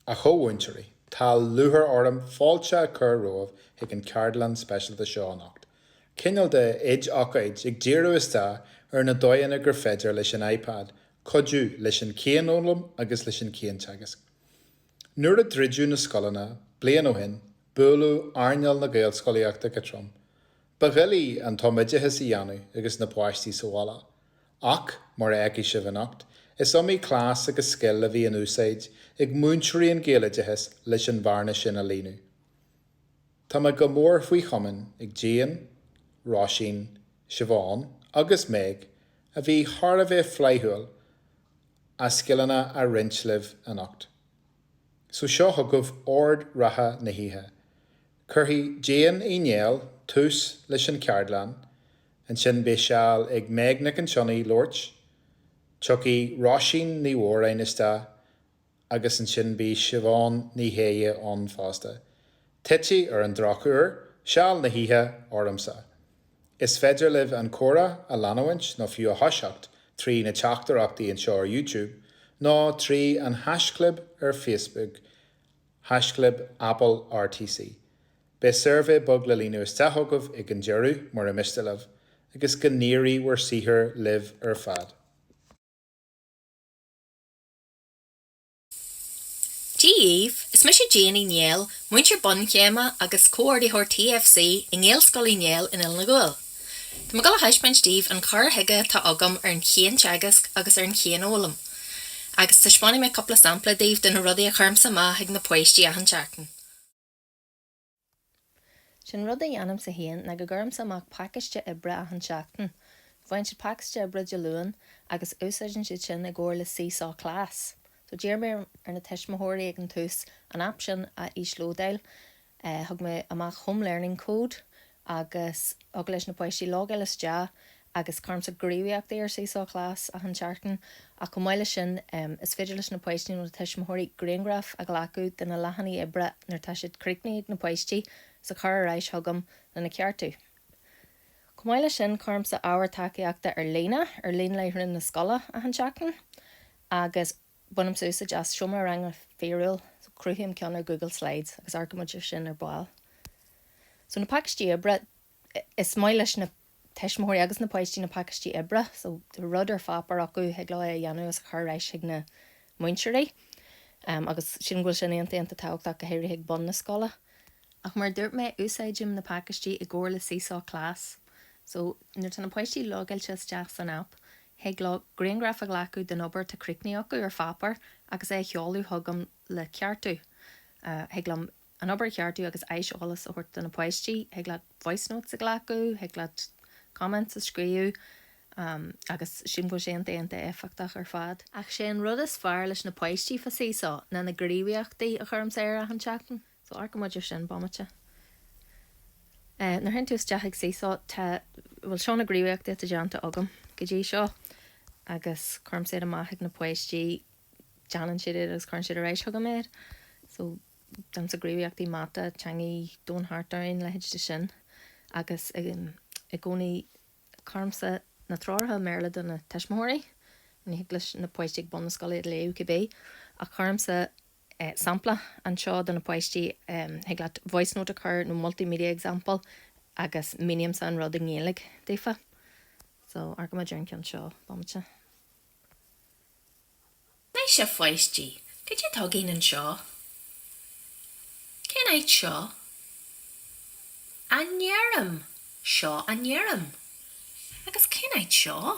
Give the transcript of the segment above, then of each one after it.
A chomhmhúinteoirí, tá lúcháir orm fáilte a chur rómhaibh chuig an ceardlann speisialta seo anocht. Cineál de oid-ócáid ag díriú isteach ar na dóigheanna gur féidir leis an iPad cuidiú leis an cianfhoghlaim agus leis an cianteagasc. Nuair a druideadh na scoileanna bliain ó shin, bualadh earnáil na Gaelscolaíochta go trom. Ba dhoiligh an tumoideachas a dhéanamh agus na páistí sa bhaile. Ach, mar a fheicfidh sibh anocht, is iomaí cleas agus scil a bhí in úsáid ag múinteoirí an Ghaeloideachais leis an bhearna sin a líonadh. Tá mé go mór faoi chomaoin ag Jane, Róisín, Siobhán agus Meg a bhí thar a bheith flaithiúil a scileanna a roinnt libh anocht. So seo chugaibh ord reatha na hoíche. Cuirfidh Jane Uí Néill tús leis an cheardlann, ansin beidh seal ag Meg Nic an tSionnaigh labhairt, tiocfaidh Róisín Ní Mhóráin isteach agus ansin beidh Siobhán Ní Shéaghdha ann fosta. Titfidh, ar an drochuair, seal na hoíche ormsa! Is féidir libh an comhrá a leanúint nó fiú a thoiseacht trí na teachtaireachtaí anseo ar YouTube nó trí an haischlib ar Facebook. haischlib Apple RTC. Beidh suirbhé beag le líonadh isteach agaibh ag an deireadh, mura miste libh, agus go n-éirí bhur saothar libh ar fad. Dia daoibh! Is mise Jane Uí Néill, múinteoir bunchéime agus comhordaitheoir TFC i nGaelscoil Uí Néill in Oileán an Ghuail. Tá mé ag dul a thaispeáint daoibh an cur chuige atá agam ar an chianteagasc agus ar an chianfhoghlaim. Agus taispeánfaidh mé cúpla sampla daoibh de na rudaí a chuirimse amach chuig na páistí achan tseachtain. Sé an rud a dhéanaimse féin ná go gcuirimse amach pacáiste oibre achan tseachtain. Faigheann siad pacáiste oibre Dé Luain agus úsáideann siad sin i gcomhair le Seesaw Class. So d'iarr mé ar na tuismitheoirí ag an tús an aip sin a íoslódáil Thug mé amach home learning code agus thig leis na páistí logáil isteach agus cuirimse gníomhaíochtaí ar Seesaw Class achan tseachtain ach chomh maith leis sin is féidir leis na páistí nó na tuismitheoirí grianghraif a ghlacadh de na leathanaigh oibre nuair atá siad críochnaithe ag na páistí is a chur ar ais chugam lena ceartú. Chomh maith leis sin cuirimse ábhar tacaíochta ar líne ar líonláithreán na scoile achan tseachtain agus. Agus bainimse úsáid as seomra ranga fíorúil, so cruthaím ceann ar Google Slides agus amharcaimid ar sin ar ball. So na pacáistí oibre, is maith leis na tuismitheoirí agus na páistí na pacáistí oibre, so rud ar pháipéar acu thig leo é a dhéanamh agus a chur ar ais chuig na múinteoirí agus sílim go bhfuil sé iontach iontach tábhachtach go háirithe ag bun na scoile. Ach mar a dúirt mé, úsáidim na pacáistí i gcomhar le Seesaw Class, so nuair atá na páistí logáilte isteach san aip, Thig leo grianghraif a ghlacadh den obair atá críochnaithe acu ar pháipéar agus é a sheoladh chugam le ceartú. Thig liom an obair a cheartú agus aiseolas a thabhairt do na páistí. Thig leat voice notes a ghlacadh, thig leat comments a scríobh agus sílim go bhfuil sé iontach, iontach éifeachtach ar fad. Ach sé an rud is fearr leis na páistí fá Seesaw ná na gníomhaíochtaí a chuirimse ar achan tseachtain. So amharcfaidh muid ar sin bomaite. Nuair a théann tú isteach ag Seesaw, tá, bhuel, seo na gníomhaíochtaí atá déanta agam go dtí seo agus cuirimse iad amach ag na páistí, déanann siad iad agus cuireann siad ar ais chugam iad. So déanann siad gníomhaíochtaí mata, teangaí, domhan thart orainn, leithéid de sin. Agus i gcónaí cuirimse na treoracha i mBéarla do na tuismitheoirí, ní thig leis na páistí ag bun na scoile iad a léamh cibé, ach cuirimse, sampla anseo do na páistí. Thig leat voice note a chur nó multimedia example agus mínímse an rud i nGaeilge daofa. So, amharcaimid ar an gceann seo bomaite. Anois a pháistí, caidé atá againn anseo? Cén áit í seo? An fheirm. Seo an fheirm. Agus cén áit í seo?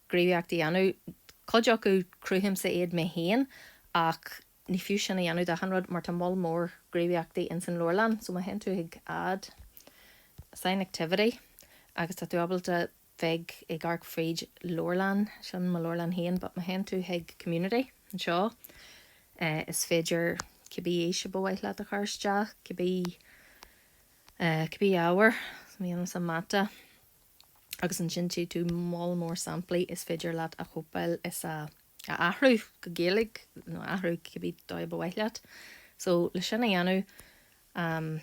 gníomhaíochtaí a dhéanamh. Cuid acu, cruthaímse iad mé féin, ach ní fiú sin a dhéanamh d'achan rud mar tá moll mór gníomhaíochtaí ins an leabharlann so má théann tú ag add, assign activity agus tá tú ábalta bheith ag amharc fríd leabharlann, sin mo leabharlann féin but má théann tú chuig community anseo is féidir cibé aois a ba mhaith leat a chur isteach, cibé, cibé ábhar, so déanaimse mata. agus ansin tchí tú moll mór samplaí is féidir leat a chóipeáil is a a athrú go Gaeilge nó a athrú cibé dóigh ba mhaith leat. So le sin a dhéanamh, fan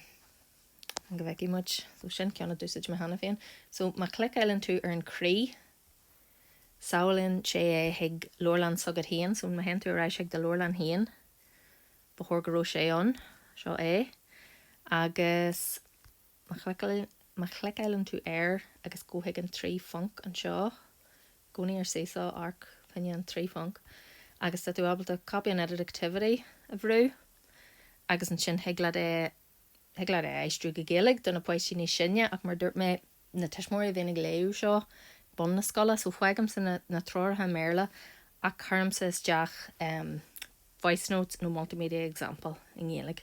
go bhfeicfidh muid, so sin ceann a d'úsáid mé cheana féin. So má chliceáileann tú ar an croí, sábhálann sé é chuig leabharlann s'agat féin, so má théann tú ar ais chuig do leabharlann féin, ba chóir go raibh sé ann, seo é, agus. Má chliceáileann tú ar agus gabh chuig an trí phonc anseo, i gcónaí ar Seesaw, amharc fá choinne an trí phonc, agus tá tú ábalta Copy and Edit Activity a bhrú agus ansin thig leat é, thig leat é a aistriú go Gaeilge do na páistí níos sine ach mar dúirt mé, na tuismitheoirí a bhíonn ag léamh seo ag bun na scoile so fágaimse na treoracha i mBéarla ach cuirimse isteach. voice notes, nó multimedia example i nGaeilge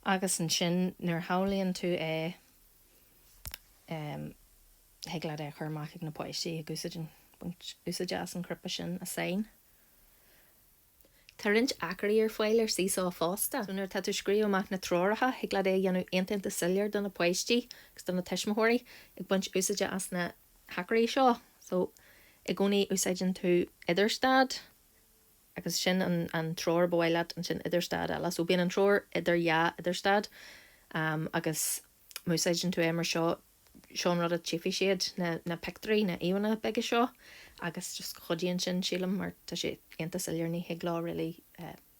agus ansin nuair a shábhálann tú é em thig leat é a chur amach ag na páistí ag baint úsáide as an chnaipe sin Assign. Tá roinnt acraí ar fáil ar Seesaw fosta so nuair atá tú ag scríobh amach na treoracha thig leat é a dhéanamh iontach iontach soiléir do na páistí agus do na tuismitheoirí ag baint úsáide as na hacraí seo so i gcónaí úsáideann tú idirstad agus ansin an treoir ba mhaith leat ansin idirstad eile so bíonn an treoir idir dhá idirstad em agus má úsáideann tú é mar seo seo an rud a tchífidh siad na na pictúirí na íomhánna beaga seo agus just cuidíonn sin sílim mar tá sé iontach soiléir ní thig leo really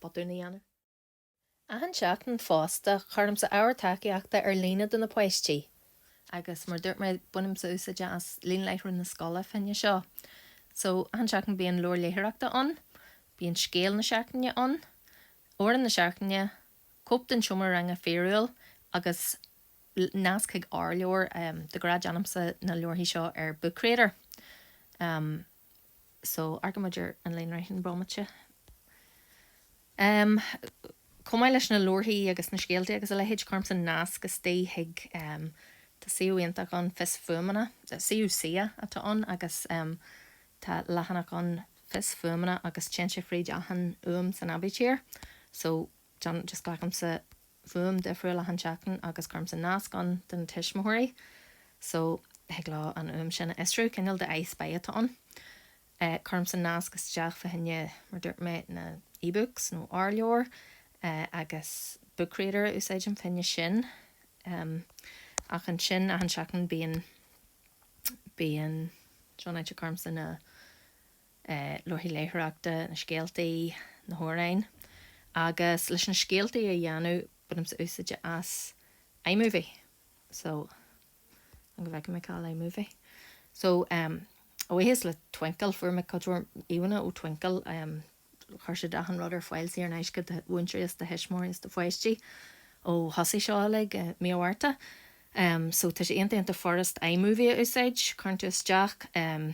botún a dhéanamh. Achan tseachtain fosta, cuirimse ábhar tacaíochta ar líne do na páistí. Agus mar a dúirt mé, bainimse úsáid as líonláithreán na scoile fá choinne seo. So, achan tseachtain bíonn leabhar léitheoireachta ann, bíonn scéal na seachtaine ann, amhrán na seachtaine, cóip den tseomra ranga fíorúil agus nasc chuig r-leabhar. De ghnáth, déanaimse na leabharthaí seo ar Book Creator. so amharcfaidh muid ar an líonláithreán bomaite. Em. chomh maith leis na leabharthaí agus na scéaltaí agus a leithéid, cuirimse nasc isteach chuig, em. tá suíomh iontach ann, Fios Fuaimeanna, suíomh CCEA atá ann agus, em. tá leathanach ann, Fios Fuaimeanna agus téann sé fríd achan fhuaim san aibítir. So. Just glacaimse fuaim difriúil achan tseachtain agus cuirimse nasc ann do na tuismitheoirí so thig leo an fhuaim sin a fhiosrú, cineál de I Spy atá ann. Eh cuirimse nasc isteach fá choinne, mar dúirt mé, na ebooks nó r-leabhair eh agus Book Creator a úsáidim fá choinne sin. Em ach ansin achan tseachtain bíonn, bíonn seo an áit a cuirimse na, leabharthaí léitheoireachta, na scéaltaí, na hamhráin agus leis na scéaltaí a dhéanamh, bainimse úsáid as iMovie so fan go bhfeicfidh mé cá bhfuil iMovie? so em a bhuíochas le Twinkl, fuair mé cuid mhór íomhánna ó Twinkl, em chuir siad achan rud ar fáil saor in aisce do mhúinteoirí is do thuismitheoirí is do pháistí ó thosaigh seo uilig i mí an Mhárta. Em so tá sé iontach iontach furast iMovie a úsáid, cuireann tú isteach em.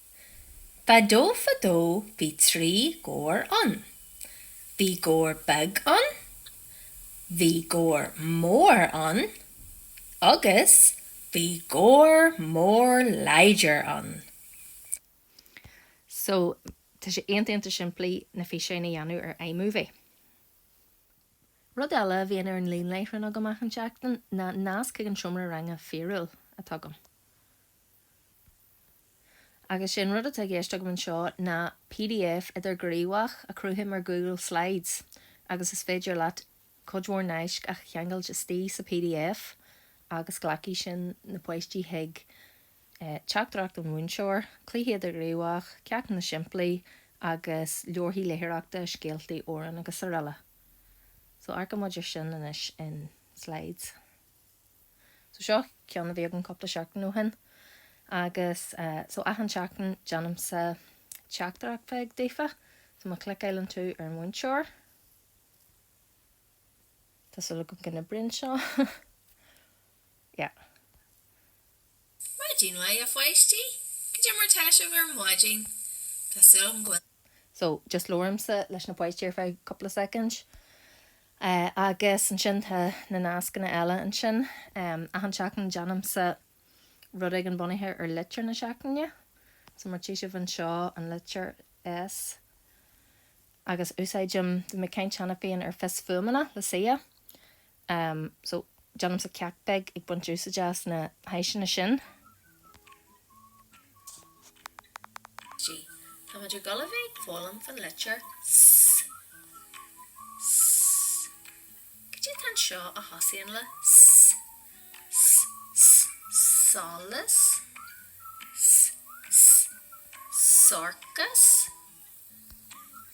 Fadó fadó bhí trí gabhair ann. Bhí gabhar beag ann, bhí gabhar mór ann agus bhí gabhar mór láidir ann. So, tá sé iontach simplí na físeáin a dhéanamh ar iMovie. Rud eile a bhíonn ar an líonláithreán agam achan seachtain ná nasc chuig an seomra ranga fíorúil atá agam. Agus sin rud atá i gceist agam anseo ná pdf idirghníomhach a chruthaím ar Google Slides agus is féidir leat cuid mhór naisc a cheangailt istigh sa pdf agus glacfaidh sin na páistí chuig teachtaireacht an mhúinteora, cluichí idirghníomhach, ceachtanna simplí agus leabharthaí léitheoireachta, scéaltaí, amhráin agus araile. So amharcfaidh muid ar sin anois in Slides. So seo ceann a bhí agam cúpla seachtain ó shin agus eh, so achan seachtain déanaimse teachtaireacht bheag daofa so má chliceáilann tú ar an mhúinteoir Tá súil agam go n-oibríonn seo. yeah. Maidin mhaith a pháistí! Goidé mar atá sibh ar maidin. Tá súil agam go bhfuil. So, just labhraímse leis na páistí ar feadh cúpla soicind. Agus ansin tá na nascanna eile ansin. Achan seachtain déanaimse rud éigin bunaithe ar litir na seachtaine. So mar tchí sibh anseo an litir S, agus úsáidim, bhí mé ag caint cheana féin ar fios fuaimeanna le SEA. Um so, déanaimse ceacht beag ag baint úsáide as na háiseanna sin. G, Tá muid ag dul a bheith ag foghlaim fan litir S. S, Cad é atá anseo a thosaíonn le S? S, S, Solas? S, S, Sorcas?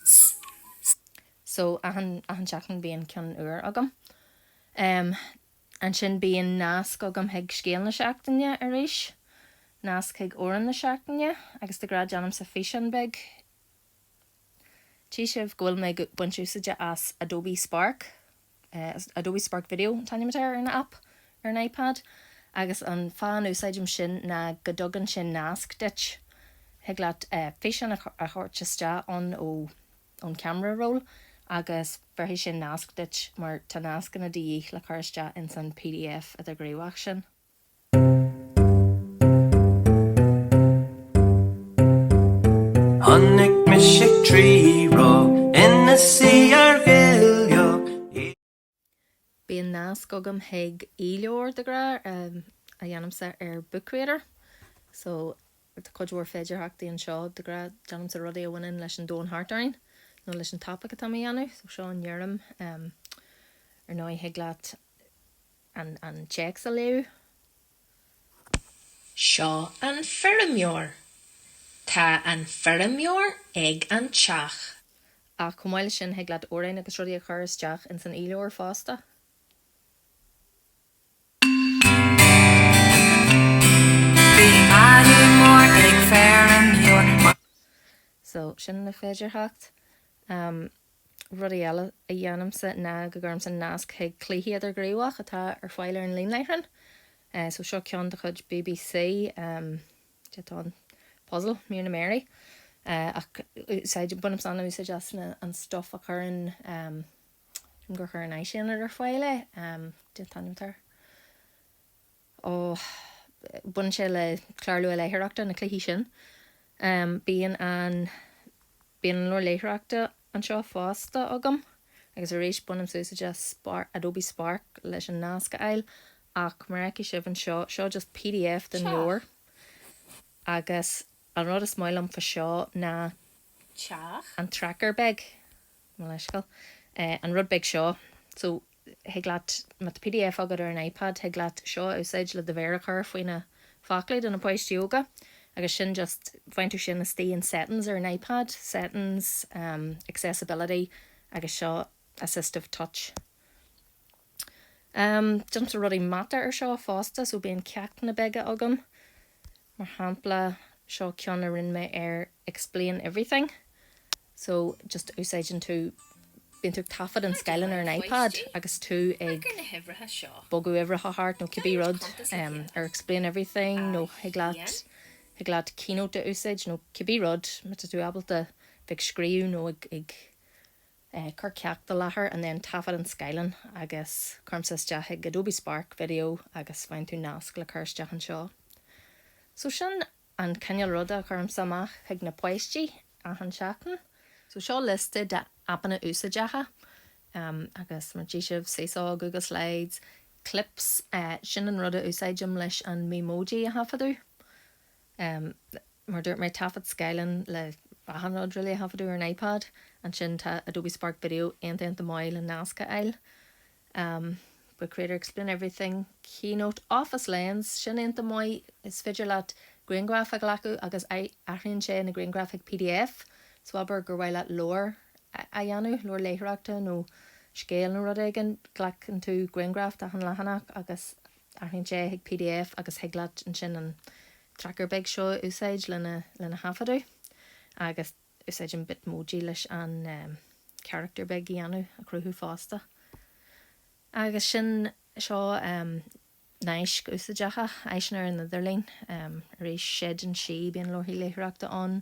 S, S. So, achan, achan seachtain bíonn ceann úr agam. Em, ansin bíonn nasc agam chuig scéal na seachtaine arís, nasc chuig amhrán na seachtaine agus de ghnáth déanaimse físeán beag, tchí sibh go bhfuil mé ag baint úsáide as Adobe Spark. Is Adobe Spark Video an t-ainm atá ar an aip ar an iPad agus an fáth an úsáidim sin ná go dtugann sin nasc duit. Thig leat físeán a thabhairt isteach ann ón camera roll agus bhéarfaidh sin nasc duit mar tá nascanna de dhíth le cur isteach ins an pdf idirghníomhach sin. Chonaic muid Tríona ina suí ar ghile. Bíonn nasc agam chuig e-leabhar de ghnáth a dhéanaimse ar Book Creator so tá cuid mhór féidearthachtaí anseo. De ghnáth déanaimse rudaí a bhaineann leis an domhan thart orainn nó leis an topaic atá mé a dhéanamh so seo an fheirm. Ar ndóigh thig leat. an téacs a léamh. Seo an feirmeoir. Tá an feirmeoir ag an teach. Ach chomh maith leis sin, thig leat amhráin agus rudaí a chur isteach ins an e-leabhar fosta. Bhí madadh mór ag feirmeoir. So, sin na féidearthachtaí. Rudaí eile a dhéanaimse ná go gcuirimse nasc chuig cluichí idirghníomhach atá ar fáil ar an líon leitheadach. So seo ceann de chuid BBC, de, tá an puzzle, míreanna mearaí, ach úsáid, bainimse an-úsáid as an stuff a chuireann, gur chuir an tÁisaonad ar fáil, de, taifeadtar. Baineann sé le clár luathléitheoireachta, na cluichí sin. Bíonn an, bíonn an leabhar léitheoireachta anseo fosta agam agus arís bainimse úsáid as Spark, Adobe Spark leis an nasc a fháil ach mar a fheicfidh sibh anseo, seo just pdf den leabhar Teach. agus an rud is maith liom fá seo ná Teach. an tracker beag. Mo leithscéal. An rud beag seo. So, thig leat, má tá pdf agat ar an iPad, thig leat seo a úsáid le do mhéar a chur faoi na focla do na páistí óga. Agus sin just, bhain tú sin istigh in settings ar an iPad. Settings, accessibility, agus seo assistive touch. Déanaimse rudaí mata ar seo fosta, so bíonn ceachtanna beaga agam. Mar shampla, seo ceann a rinne mé ar Explain Everything. So, just úsáideann tú, bíonn tú ag taifead an scáileáin ar an iPad agus tú ag bogadh uimhreacha thart nó cibé rud, ar Explain Everything nó thig leat, thig leat Keynote a úsáid nó cibé rud, má tá tú ábalta bheith ag scríobh nó ag. ag cur ceacht i láthair and then taifead an scáileán agus cuirimse isteach chuig Adobe Spark, Video agus faigheann tú nasc le cur isteach anseo. So sin an cineál ruda a chuirimse amach chuig na páistí achan seachtain. So seo liosta de aipeanna úsáideacha agus mar a tchí sibh, Seesaw, Google Slides, Clips, sin an rud a úsáidim leis an Memoji a thaifeadadh. Mar a dúirt mé, taifead scáileáin le achan rud really a thaifeadadh ar an iPad. Ansin tá Adobe Spark Video, aon iontach maith le nasc a fháil. Book Creator, Explain Everything, Keynote, Office Lens, sin aon iontach maith, is féidir leat grianghraif a ghlacadh agus athraíonn sé na grianghraif chuig pdf. So abair gur mhaith leat leabhar a dhéanamh, leabhar léitheoireachta nó scéal nó rud éigin, glacann tú grianghraf d'achan leathanach agus Athraíonn sé chuig pdf agus thig leat ansin an tracker beag seo a úsáid lena thaifeadadh agus úsáid an Bitmoji leis an charachtar beag a dhéanamh, a chruthú fosta. Agus sin, seo naisc úsáideacha, áiseanna ar an idirlíon, arís, Séideán Sí, bíonn leabharthaí léitheoireachta ann.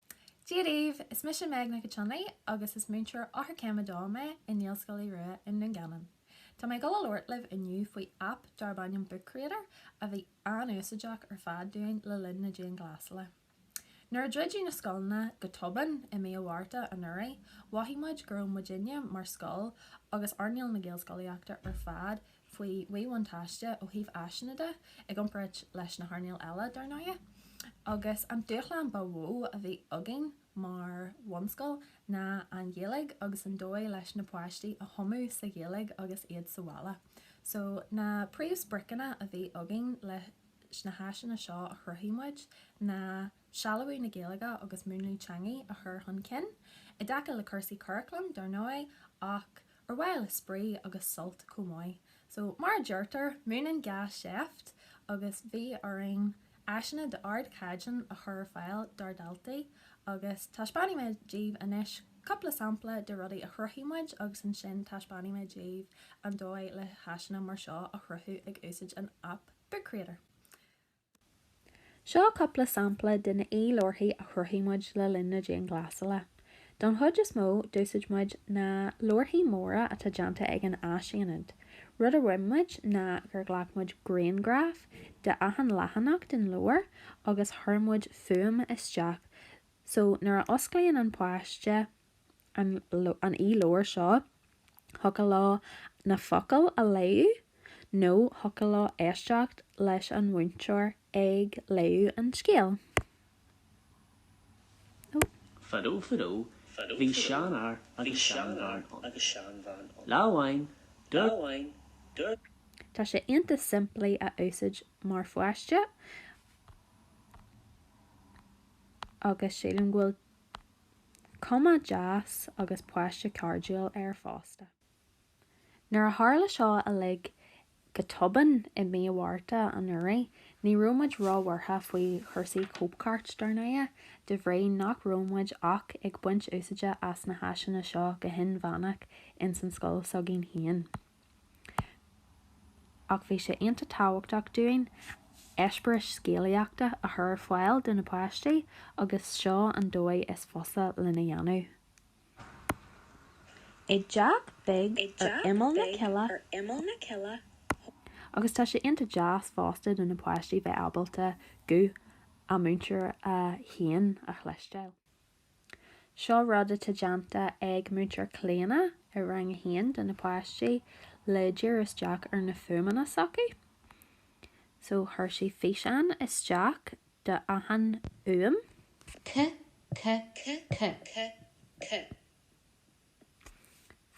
Dia daoibh! Is mise Meg Nic an tSionnaigh agus is múinteoir Eochairchéim 2 mé i nGaelscoil Uí Rua i nDún Geanainn. Tá mé ag dul a labhairt libh inniu faoi aip darb ainm Book Creator a bhí an-úsáideach ar fad dúinn le linn na dianghlásala. Nuair a druideadh na scoileanna go tobann i mí an Mhárta anuraidh, mhothaigh muid go raibh muidinne mar scoil agus earnáil na Gaelscolaíochta ar fad faoi mhíbhuntáiste ó thaobh áiseanna de, i gcomparáid leis na hearnálacha eile, dar ndóigh. Agus an dúshlán ba mhó a bhí againn mar bhunscoil ná an Ghaeilge agus an dóigh leis na páistí a thumadh sa Ghaeilge agus iad sa bhaile. So na príomhspriocanna a bhí againn leis na háiseanna seo a chruthaigh muid ná sealbhú na Gaeilge agus múnlaí teangaidh a chur chun cinn, i dtaca le cúrsaí curaclaim, dar ndóigh, ach. Ar mhaithe le spraoi agus sult chomh maith. So, mar a deirtear, múineann gá seift agus bhí orainn áiseanna d'ardchaighdeán a chur ar fáil dár dhaltaí agus taispeánfaidh mé daoibh anois cúpla sampla de rudaí a chruthaigh muid agus ansin taispeánfaidh mé daoibh an dóigh le háiseanna mar seo a chruthú ag úsáid an aip Book Creator. Seo cúpla sampla de na e-leabharthaí a chruthaigh muid le linn na dianghlasála. Don chuid is mó, d'úsáid muid na leabharthaí móra atá déanta ag an Áisaonad. Rud a rinne muid ná gur ghlac muid grianghraf de achan leathanach den leabhar agus chuir muid fuaim isteach so nuair a osclaíonn an páiste an e-leabhar seo thiocfadh leo na focail a léadh nó thiocfadh leo éisteacht leis an mhúinteoir ag léadh an scéil. Fadó fadó, bhí seanfhear agus seanbhean ann. Lá amháin, dúirt. Tá sé iontach simplí a úsáid mar pháiste agus sílim go bhfuil. Cuma dheas agus páiste cairdiúil air fosta. Nuair a tharla seo uilig go tobann i mí an Mhárta anuraidh, ní raibh muid róbhuartha faoi chúrsaí cóipchirt, dar ndóigh, de bhrí nach raibh muid ach ag baint úsáide as na háiseanna seo go hinmheánach ins an scoil s'againn féin. Ach bhí sé iontach tábhachtach dúinn eispéiris scéalaíochta a chur ar fáil do na páistí agus seo an dóigh is fusa lena dhéanamh. I dteach beag ar imeall na coille. Agus tá sé iontach deas fosta do na páistí bheith ábalta guth a múinteora féin a chloisteáil. Seo rud atá déanta ag Múinteoir Clíona i Rang 1 do na páistí le díriú isteach ar na fuaimeanna s'acu. So chuir sí físeán isteach de achan fhuaim.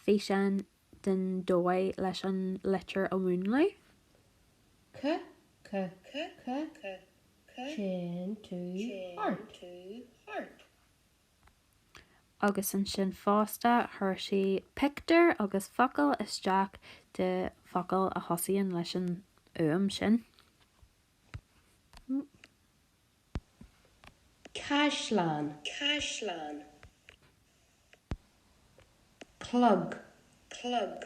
Físeán den dóigh leis an litir a mhúnlú. K K K K Chain to heart. Agus ansin fosta chuir sí pictiúr agus focail isteach de focail a thosaíonn leis an fhuaim sin. caisleán caisleán clog clog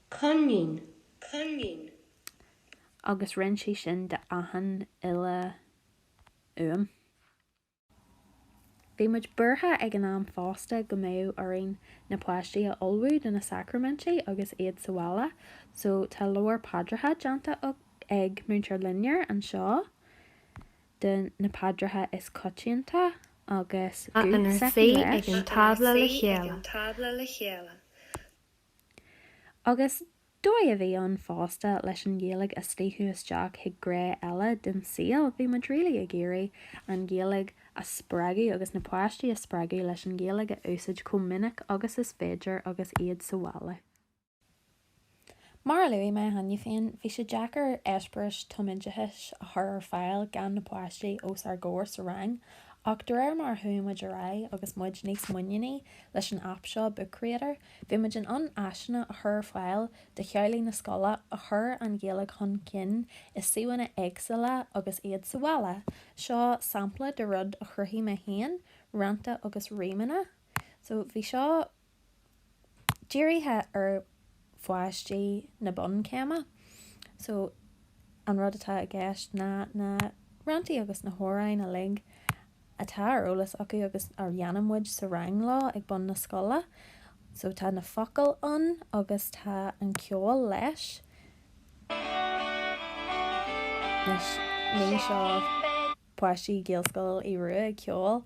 coinín coinín. agus roinn sí sin d'achan uile fhuaim. Bhí muid buartha ag an am fosta go mbeadh orainn na páistí a ullmhú do na sacraimintí agus iad sa bhaile so tá leabhar paidreacha déanta ag Múinteoir Loinnir anseo de na paidreacha is coitianta agus guth s'aici leis. Agus dóigh a bhí ann fosta leis an Ghaeilge a shníomh isteach chuig gné eile den saol, bhí muid really ag iarraidh an Ghaeilge a spreagadh agus na páistí a spreagadh leis an Ghaeilge a úsáid chomh minic agus is féidir agus iad sa bhaile. Mar a luaigh mé cheana féin, bhí sé deacair eispéiris tumoideachais a chur ar fáil gan na páistí os ár gcomhair sa rang ach de réir mar a chuaigh muid ar aghaidh agus muid níos muiníní leis an aip seo Book Creator, Bhí muid in ann áiseanna a chur ar fáil do theaghlaigh na scoile a chuir an Ghaeilge chun cinn i suíomhanna éagsúla agus iad sa bhaile. Seo sampla de rud a chruthaigh mé féin, rannta agus rímeanna. So bhí seo dírithe ar pháistí na bunchéime. So an rud atá i gceist ná na ranntaí agus na hamhráin uilig. atá ar eolas acu agus a dhéanann muid sa rang leo ag bun na scoile. So tá na focail ann agus tá an ceol leis. Anois ní seo páistí Gaelscoil Aodha Rua ag ceol,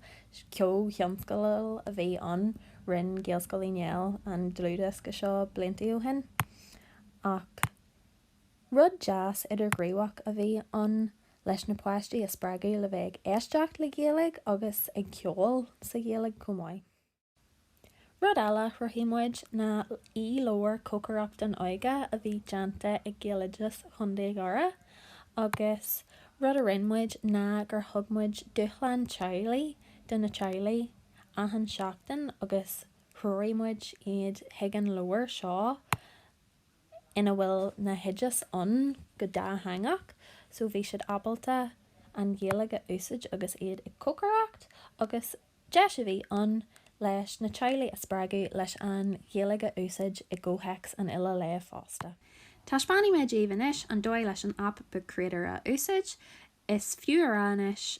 comhthionscadal a bhí ann, rinne Gaelscoil Uí Néill an dlúthdhiosca seo blianta ó shin ach. Rud deas idirghníomhach a bhí ann leis na páistí a spreagadh le bheith ag éisteacht le Gaeilge agus ag ceol sa Ghaeilge chomh maith. Rud eile a chruthaigh muid ná e-leabhar Cócaireacht don Óige a bhí déanta ag Gaeloideas Chontae Dhoire agus rud a rinne muid ná gur thug muid dúshlán teaghlaigh do na teaghlaigh achan seachtain agus threoraigh muid iad chuig an leabhar seo ina bhfuil na hoideas ann go dátheangach so bhí siad ábalta an Ghaeilge a úsáid agus iad ag cócaireacht agus deis a bhí ann leis na teaghlaigh a spreagadh leis an Ghaeilge a úsáid i gcomhthéacs an uile lae fosta. Taispeánfaidh mé daoibh anois an dóigh leis an aip Book Creator a úsáid. Is fiú a rá anois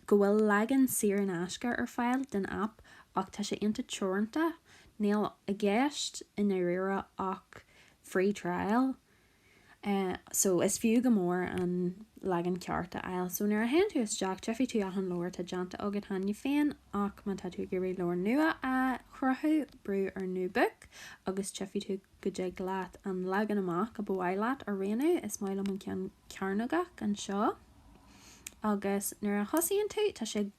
go bhfuil leagan saor in aisce ar fáil den aip ach tá sé iontach teoranta, níl i gceist i ndáiríre ach free trial, so is fiú go mór an leagan ceart a fháil. So nuair a théann tú isteach tífidh tú achan leabhar atá déanta agat cheana féin ach má tá tú ag iarraidh leabhar nua a chruthú brú ar New Book agus tífidh tú go dtig leat an leagan amach a ba mhaith leat a roghnú, is maith liom an ceann cearnógach anseo, agus nuair a thosaíonn tú tá sé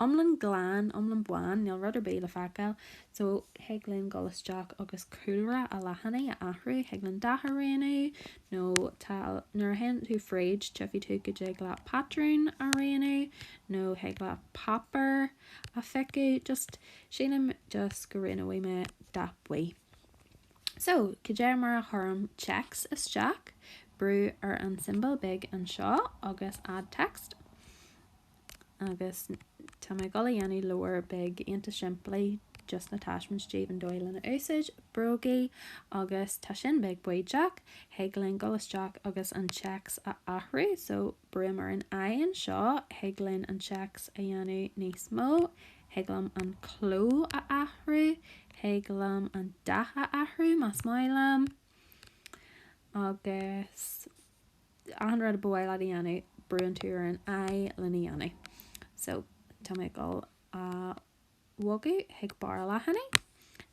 iomlán glan, iomlán bán, níl rud ar bith le feiceáil. So, thig linn dul isteach agus cúlra an leathanaigh a athrú, thig linn dath a roghnú, nó tá, nuair a théann tú fríd, tífidh tú go dtig leat patrún a roghnú, nó thig leat páipéar a phiocadh, just, sílim just go roghnóidh mé dath buí. So, cad é mar a chuirim téacs isteach, brú ar an tsiombail beag anseo agus Add Text agus tá mé ag dul a dhéanamh leabhar beag iontach simplí just na taispeáint daoibh an dóigh lena úsáid, Brógaí agus tá sin beag baoideach, thig linn dul isteach agus an téacs a athrú. So, brúim ar an i anseo, thig linn an téacs a dhéanamh níos mó, Thig liom an cló a athrú, thig liom an dath a athrú más maith liom. Agus achan rud a ba mhaith leat a dhéanamh, brúann tú ar an i lena dhéanamh. So, tá mé ag dul a bhogadh chuig barr an leathanaigh.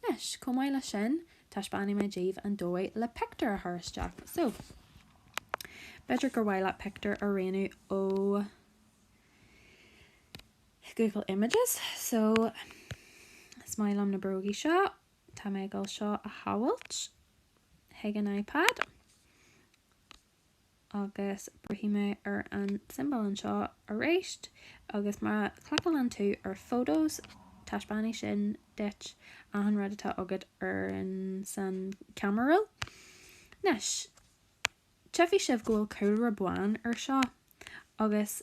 Anois, chomh maith leis sin, taispeánfaidh mé daoibh an dóigh le pictiúr a chur isteach. So, b'fhéidir gur mhaith leat pictiúr a roghnú ó. Google Images so is maith liom na brógaí seo. Tá mé ag dul seo a shábháil chuig an iPad agus brúfaidh mé ar an symbol anseo arís agus má chliceálann tú ar Photos taispeánfaidh sin duit achan rud atá agat sa camera roll. Anois, tchífidh sibh go bhfuil cúlra bán ar seo agus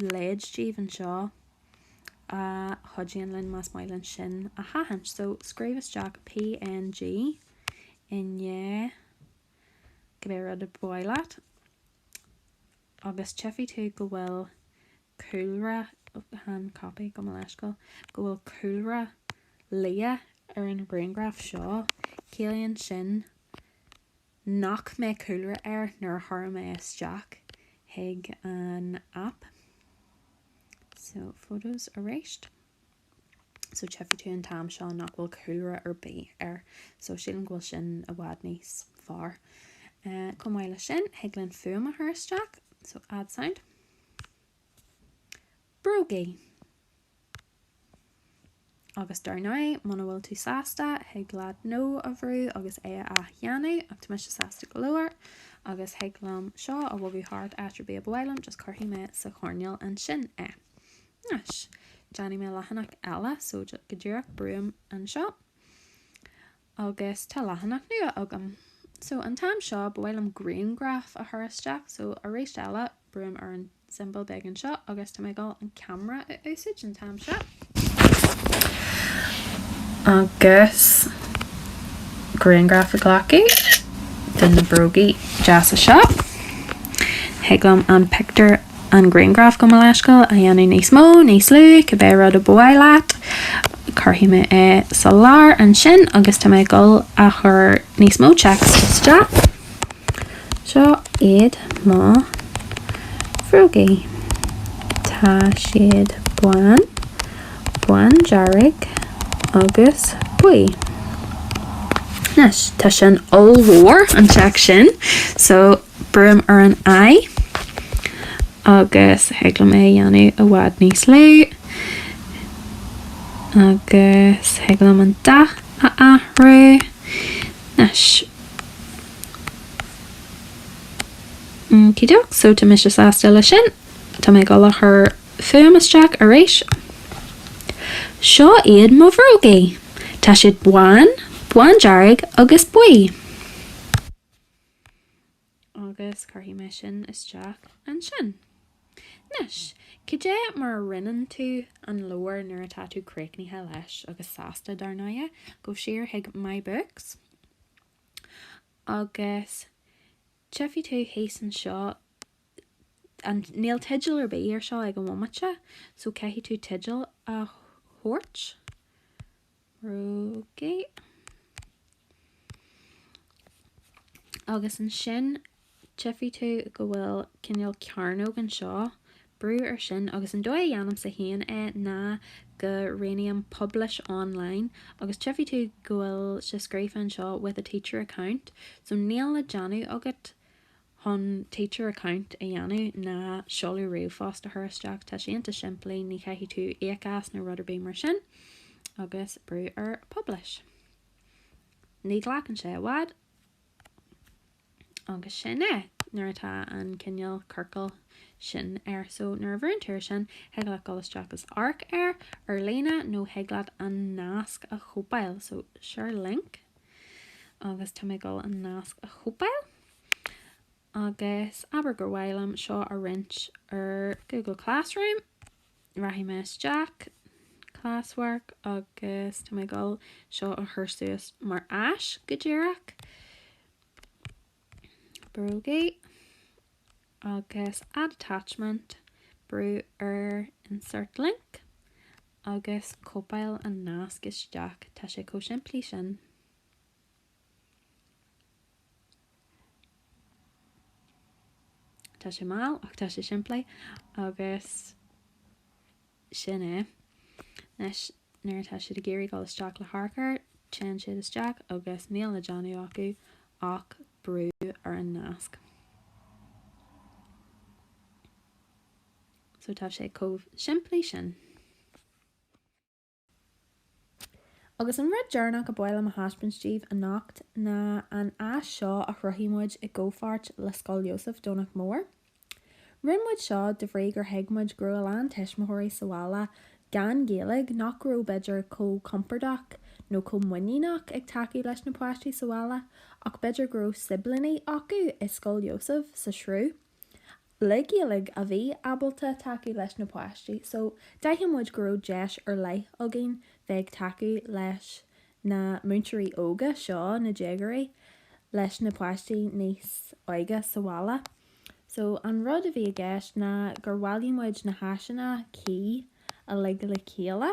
leid daoibh anseo a chuidíonn linn, más maith linn sin a haithint. So, scríobh isteach PNG i ndiaidh cibé rud a ba mhaith leat agus tchífidh tú go bhfuil cúlra chan, copy gabh mo leithscéal, go bhfuil cúlra liath ar an ghrianghraf seo. Ciallaíonn sin nach mbeidh cúlra air nuair a thabharfaidh mé isteach chuig an aip. So, photos aríst. So, tchífidh tú an t-am seo nach bhfuil cúlra ar bith air. So, sílim go bhfuil sin i bhfad níos fearr. Chomh maith leis sin, thig linn fuaim a chur isteach. So, add sound. Bróga. Agus dar ndóigh, muna bhfuil tú sásta, thig leat No a bhrú agus é a athdhéanamh, ach tá mise sásta go leor, agus thig liom seo a bhogadh thart áit ar bith a ba mhaith liom, just cuirfidh mé sa choirnéal ansin é. Anois, déanfaidh mé leathanach eile, so go díreach brúim anseo, agus tá leathanach nua agam. So, an t-am seo, ba mhaith liom grianghraf a chur isteach, so, aríst eile, brúim ar an symbol beag anseo agus tá mé ag dul an camera a úsaid an t-am seo. Agus grianghraf a ghlacadh de na brógaí deasa seo. Thig liom an pictiúr. an grianghraf gabh mo leithscéal, a dhéanamh níos mó, níos lú, cibé rud a ba mhaith leat. Cuirfidh mé é sa lár ansin agus tá mé ag dul a chur níos mó téacs isteach. Seo iad mo bhrógaí. Tá siad bán, bándearg agus buí. Anois, tá sin ollmhór an téacs sin, so Brúim ar an 'I' agus thig liom é a dhéanamh i bhfad níos lú. Agus thig liom an dath a athrú. Anois. Okie doke, so tá mise sásta le sin. Tá mé ag dul a chur fuaim isteach aríst. Seo iad mo bhrógaí. Tá siad bán, bándearg agus buí. Agus cuirfidh mé sin isteach ansin. Anois, caidé mar a roinneann tú an leabhar nuair atá tú críochnaithe leis agus sásta, dar ndóighe, gabh siar chuig My Books agus tchifidh tú thíos anseo, an, níl teideal ar bith air seo ag an bhomaite, so caithfidh tú teideal a thabhairt. Brógaí. Agus ansin tchifidh tú go bhfuil cineál cearnóg anseo, brú ar sin agus an dóigh a dhéanaimse féin é ná go roghnaím Publish Online agus tchifidh tú go bhfuil sé scríofa anseo With a Teacher Account so níl le déanamh agat chun teacher account a dhéanamh ná seoladh ríomhphost a chur isteach, tá sé ionta simplí, ní chaithfidh tú íoc as nó rud ar bith mar sin. Agus brú ar publish. Ní ghlacann sé i bhfad agus sin é, nuair atá an cineál ciorcal sin air. So, nuair a bhrúnn tú ar sin, thig leat dul isteach is amharc air ar líne nó thig leat an nasc a chóipeáil. So, share link agus tá mé ag dul an nasc a chóipeáil. Agus abair gur mhaith liom seo a roinnt ar Google Classroom, rachaidh mé isteach, Classwork, agus tá mé ag dul seo a chur suas mar áis go díreach. Brógaí. Agus add attachment, brú ar insert link, agus cóipeáil an nasc isteach. Tá sé chomh simplí sin. Tá sé mall ach tá sé simplí agus sin é. Anois nuair atá siad ag iarraidh dul isteach le hamharc air, téann siad isteach agus níl le déanamh acu ach brú ar an nasc. So tá sé chomh simplí sin. Agus an rud deireanach a ba mhaith liom a thaispeáint díbh anocht ná an áis seo a chruthaigh muid i gcomhpháirt le Scoil Iósaif, Domhnach Mór. Rinne muid seo de bhrí gur thuig muid go raibh a lán tuismitheoirí sa bhaile gan Ghaeilge nach raibh, b'fhéidir, chomh compordach nó chomh muiníneach ag tacú leis na páistí sa bhaile ach b'fhéidir go raibh siblíní acu i Scoil Iósaif sa Sruth le Gaeilge a bhí ábalta tacú leis na páistí so d'aithin muid go raibh deis ar leith againn bheith ag tacú leis na múinteoirí óga seo, na déagóirí, leis na páistí níos óige sa bhaile. So an rud a bhí i gceist ná gur bhailigh muid na háiseanna, key, uilig le chéile.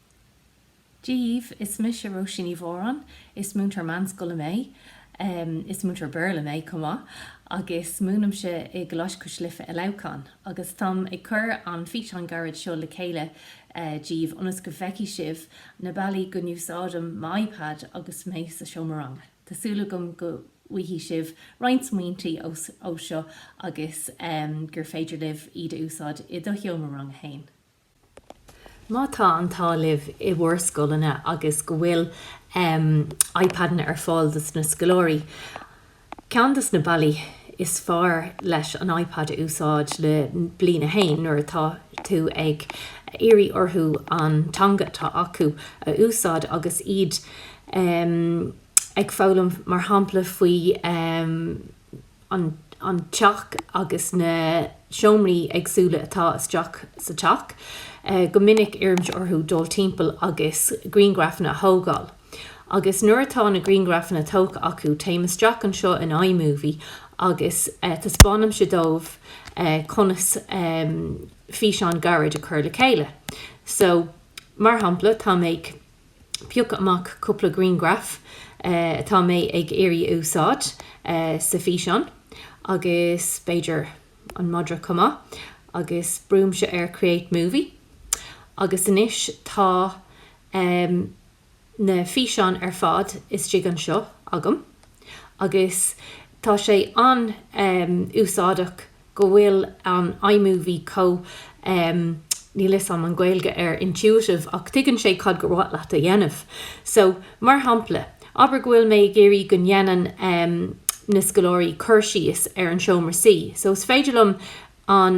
daoibh. Is mise Róisín Ní Mhóráin. Is múinteoir meánscoile mé. Is múinteoir Béarla mé chomh maith agus múinimse i gColáiste Cois Life i Leamhcán. Agus táim ag cur an físeán gairid seo le chéile daoibh ionas go bhfeicfidh sibh na bealaí go n-úsáidim m'iPad agus mé sa seomra ranga. Tá súil agam go bhfaighidh sibh roinnt smaointe ó seo agus gur féidir libh iad a úsáid i do sheomra ranga féin. Má tá an t-ádh libh i bhur scoileanna agus go bhfuil iPadanna ar fáil dos na scoláirí, ceann dos na bealaí is fearr leis an iPad a úsáid le Bliain a hAon nuair atá tú ag iarraidh orthu an teanga atá acu a úsáid agus iad ag foghlaim mar shampla faoi an teach agus na seomraí éagsúla atá isteach sa teach, go minic iarraimse orthu dul timpeall agus grianghrafanna a thógáil. Agus nuair atá na grianghrafanna tógtha acu, téimse isteach anseo in iMovie agus taispeánaimse dóibh conas físeán gairid a chur le chéile. So, mar shampla, tá mé ag. piocadh amach cúpla grianghraf atá mé ag iarraidh a úsáid sa físeán, agus b'fhéidir an madra chomh maith, agus brúimse ar Create Movie agus anois tá na físeáin ar fad istigh anseo agam agus tá sé an-úsáideach. go bhfuil an iMovie chomh um níl fhios a'm an Gaeilge ar intuitive ach tuigeann sé cad gur mhaith leat a dhéanamh. So, mar shampla, abair go bhfuil mé ag iarraidh go ndéanann um na scoláirí cur síos ar an seomra suí so is féidir liom an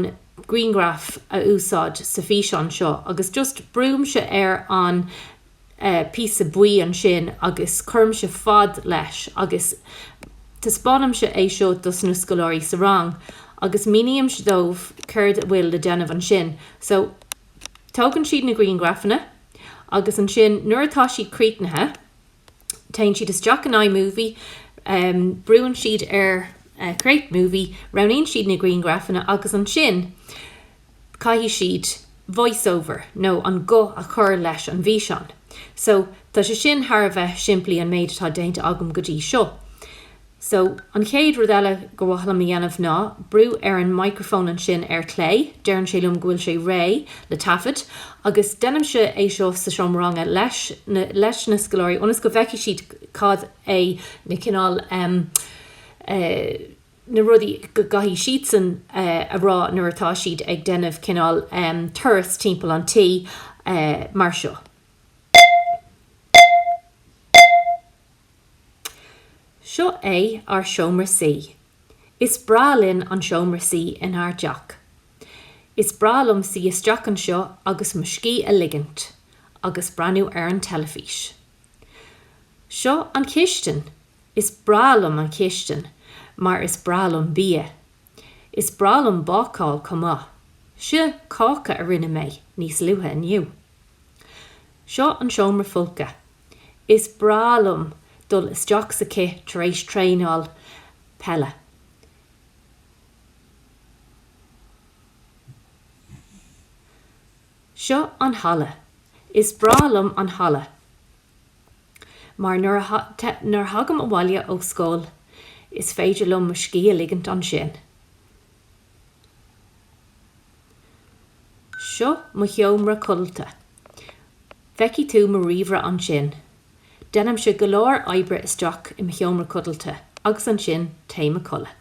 grianghraf a úsáid sa físeán seo agus just brúimse ar an píosa buí ansin agus cuirimse fad leis agus taispeánaimse é seo dos na scoláirí sa rang agus mínímse dóibh céard a bhfuil le déanamh ansin. So, tógann siad na grianghrafanna agus ansin nuair atá siad críochnaithe, téann siad isteach in iMovie, brúann siad ar Create Movie, roghnaíonn siad na grianghrafanna agus ansin, caithfidh siad voice over nó an guth a chur leis an bhfíseán. So, tá sé sin thar a bheith simplí, an méid atá déanta agam go dtí seo. So, an chéad rud eile gur mhaith liom a dhéanamh ná brú ar an microphone ansin ar clé, deireann sé liom go bhfuil sé réidh le taifead, agus deinimse é seo sa seomra ranga leis na scoláirí ionas go bhfeicfidh siad cad é na cineál eh, na rudaí go gcaithfidh siadsan a rá nuair atá siad ag déanamh cineál turas timpeall an tí mar seo. Seo é ár seomra suí. Is breá linn an seomra suí inár teach. Is breá liom suí isteach anseo agus mo scíth a ligint agus breathnú ar an teilifís. Seo an chistin. Is breá liom an chistin mar is breá liom bia. Is breá liom bácáil chomh maith. Seo cáca a rinne mé níos luaithe inniu. Seo an seomra folctha. Is breá liom dul isteach sa chith tar éis traenáil peile. Seo an halla. Is breá liom an halla mar nuair a thagaim abhaile ó scoil is féidir liom mo scíth a ligint ansin. Seo mo sheomra codlata. Feicfidh tú mo ríomhaire ansin. Déanaimse go leor oibre isteach i mo sheomra codlata agus ansin téim a codladh.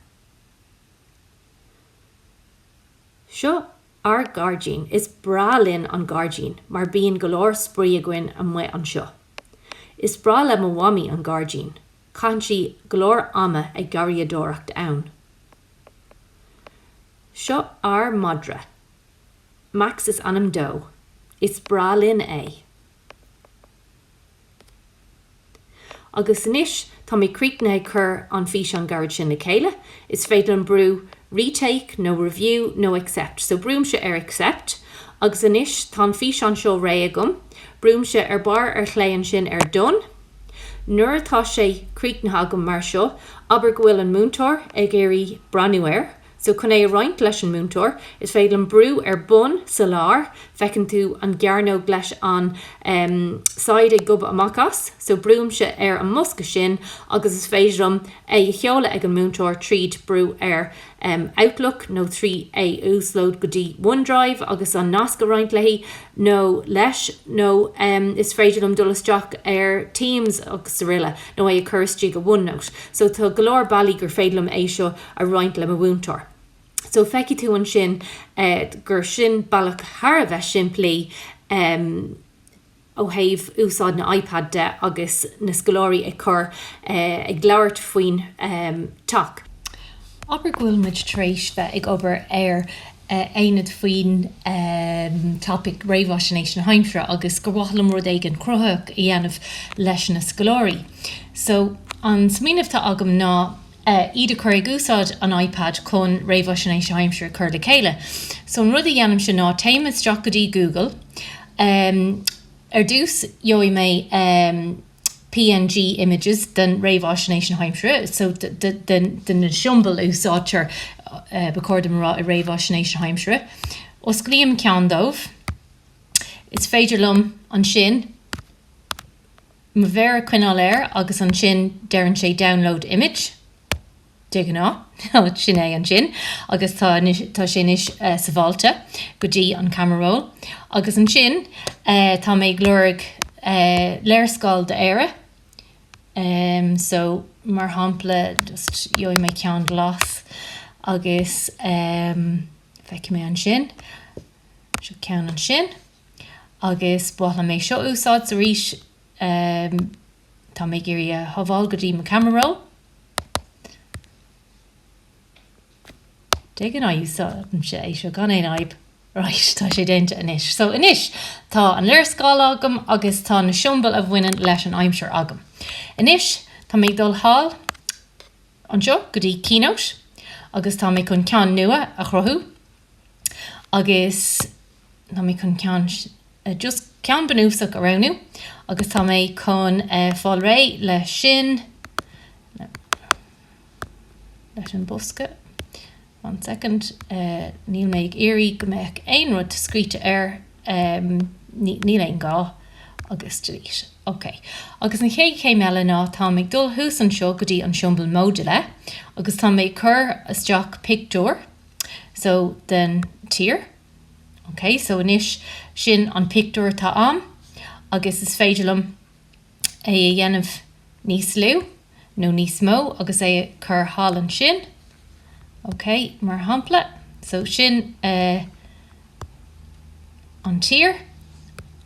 Seo Ár gairdín. Is breá linn an gairdín mar bíonn go leor spraoi againn amuigh anseo. Is breá le mo mhamaí an gairdín. Caitheann sí go leor ama ag garraíodóireacht ann. Seo ár madra. Max is ainm dó. Is breá linn é. Agus anois tá mé críochnaithe ag cur an físeán gairid sin le chéile, is féidir liom brú retake nó review nó accept. So brúimse ar accept agus anois tá an físeán seo réidh agam. Brúimse ar barr ar chlé ansin ar done. Nuair atá sé críochnaithe agam mar seo, abair go bhfuil an múinteoir ag iarraidh breathnú air, So chun é a roinnt leis an múinteoir, is féidir liom brú ar bun, sa lár, feiceann tú an gcearnóg leis an em saighead ag gobadh amach as, so brúimse ar an mbosca sin agus is féidir liom é a sheoladh ag an múinteoir tríd brú ar em outlook nó trí é a uaslód go dtí onedrive agus an nasc a roinnt léi nó leis nó em is féidir liom dul isteach ar teams agus aroile nó é a chur isteach go onenote so tá go leor bealaí gur féidir liom é seo a a roinnt le mo mhúinteoir. So feicfidh tú ansin gur sin bealach thar a bheith simplí ó thaobh úsáid na iPad de agus na scoláirí ag cur, ag labhairt faoin teach. Abair go bhfuil muid tar éis bheith ag obair ar aonad faoin topaic réamhaisnéis na haimsire agus gur mhaith liom rud éigin cruthaitheach a dhéanamh leis na scoláirí. So an smaoineamh atá agam ná. ar fad ag cur ag úsáid an iPad chun réamhaisnéis na haimsire a chur le chéile. So an rud a dhéanaimse ná téim isteach go dtí Google. Ar dtús gheobhaidh mé png images den réamhaisnéis na haimsire, so de na siombail a úsáidtear, ba chóir dom a rá, i réamhaisnéis na haimsire. Osclaím ceann díobh. Is féidir liom ansin. Mo mhéar a choinneáil air agus ansin deireann sé download image, de ghnáth. Sin é ansin agus tá anois, tá sé anois sabháilte go dtí an camera roll. Agus ansin tá mé ag lorg léarscáil d'Éire so mar shampla just gheobhaidh mé ceann glas agus feicfidh mé ansin, so ceann ansin. Agus ba mhaith liom é seo a úsáid so arís. Tá mé ag iarraidh é a shábháil go dtí mo camera roll. Déanann sé é seo gan aon fhadhb. Right, tá sé déanta anois. So anois, tá an léarscáil agam agus tá na siombail a bhaineann leis an aimsir agam. Anois, tá mé ag dul thall anseo go dtí Keynote agus tá mé chun ceann nua a chruthú agus. Tá mé chun ceann, just ceann bunúsach a roghnú agus tá mé chun fáil réidh leis sin, leis an bosca, one second, níl mé ag iarraidh go mbeadh aon rud scríte air, níl aon ghá, agus delete. Ok. Agus an chéad chéim eile ná táim ag dul thuas anseo go dtí an siombal móide agus tá mé ag cur isteach pictiúr, so, den tír. Ok, so anois sin an pictiúr atá a'm agus is féidir liom é a dhéanamh níos lú nó níos mó agus é a chur thall ansin. Ok, mar shampla, so sin eh an tír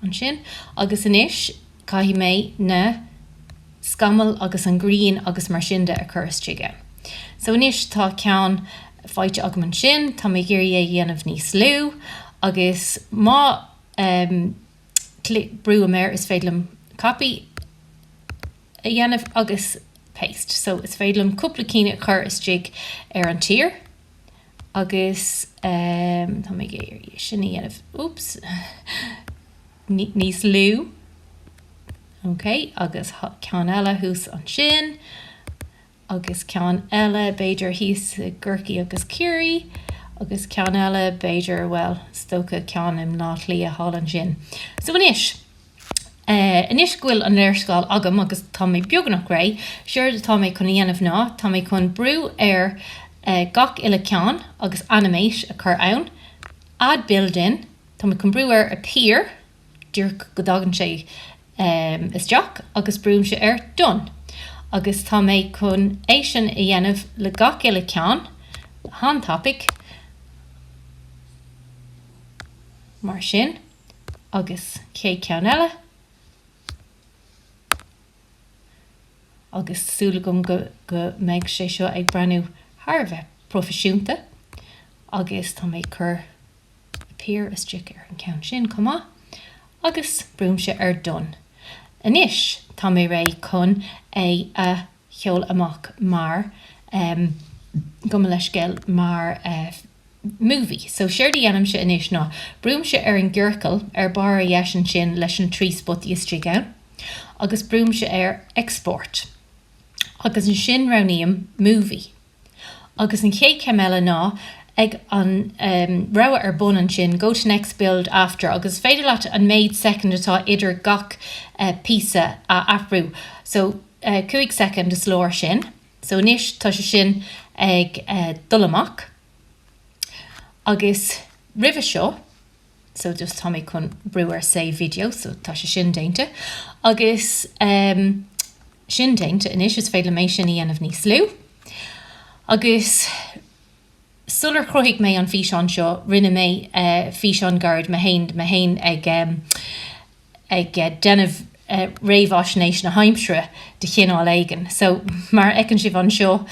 ansin agus anois. Caithfidh mé na scamaill agus an ghrian agus mar sin de a chur istigh ann. So anois tá ceann faighte agam ansin, tá mé ag iarraidh é a dhéanamh níos lú agus má ehm clic, brúim air, is féidir liom copy a dhéanamh agus paste. So is féidir liom cúpla cinn a chur istigh ar an tír agus ehm tá mé ag iarraidh é sin a dhéanamh, oops. níos lú, OK, agus ceann eile thuas ansin, agus ceann eile b'fhéidir thíos i gCorcaigh agus Ciarraí, agus ceann eile b'fhéidir, bhuel, is dócha ceann i mBleá Cliath thall ansin. So anois, anois go bhfuil an léarscáil agam agus tá mé beagnach réidh, séard atá mé chun a dhéanamh ná, tá mé chun brú ar gach uile ceann agus animate a chur ann, add build in, Tá mé chun brú ar appear, díreach go dtagann sé isteach agus brúimse ar done, agus tá mé chun é sin a dhéanamh le gach uile ceann, an-tapaidh, mar sin, agus cé ceann eile, agus súil agam go mbeidh sé seo ag breathnú thar a bheith proifisiúnta, agus tá mé ag cur. appear isteach ar an gceann sin chomh maith agus brúimse ar done. Anois tá mé réidh chun é a sheoladh amach mar gabh mo leithscéal, mar movie. So séard a dhéanaimse anois ná brúimse ar an gciorcal ar barr ar dheis ansin leis an trí spotaí istigh ann agus brúimse ar Export agus ansin roghnaím Movie. Agus an chéad chéim eile ná ag an rogha ar bun ansin, Go to next, Build after agus is féidir leat an méid soicind atá idir gach píosa a athrú. So, cúig soicind is leor sin. So, anois tá sé sin ag dul amach. Agus roimhe seo. so just tá mé chun brú ar save video so tá sé sin déanta agus ehm sin déanta anois is féidir liom é sin a dhéanamh níos lú agus sular chruthaigh mé an físeán seo rinne mé eh físeán gairid mé féin mé féin ag ehm ag déanamh réamhfhaisnéis na haimsire de chineál éigin. So, mar a fheiceann sibh anseo,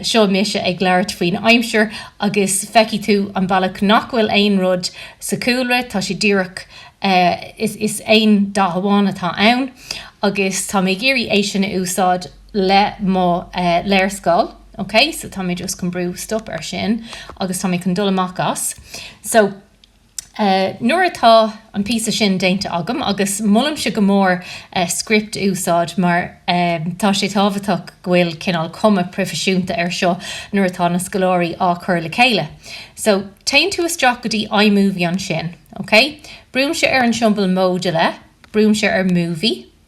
seo mise ag labhairt faoin aimsir agus feicfidh tú an bealach nach bhfuil aon rud sa chúlra, tá sé díreach, is aon dath amháin atá ann agus tá mé ag iarraidh é sin a úsáid le mo léarscáil, ok. So tá mé just chun brú stop ar sin agus tá mé chun dul amach as. So. Nuair atá an píosa sin déanta agam, agus molaimse go mór script a úsáid mar tá sé tábhachtach go bhfuil cineál cuma proifisiúnta ar seo nuair atá na scoláirí á chur le chéile. So, téann tú isteach go dtí iMovie ansin, OK? Brúimse ar an siombal móide lé, brúimse ar Movie,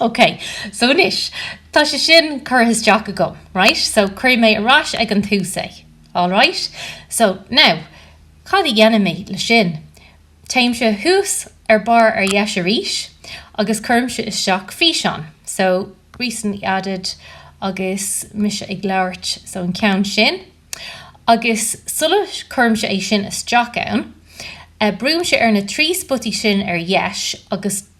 Ok, so anois, tá sé sin curtha isteach agam, right? So, cuirfidh mé ar ais ag an tús é. Alright? So, now, cad a dhéanfaidh mé le sin? Téimse suas ar barr ar dheis arís agus cuirimse isteach físeán. So, recently added agus mise ag labhairt, so an ceann sin. Agus sula cuirimse é sin isteach ann, brúimse ar na trí spotaí sin ar dheis agus.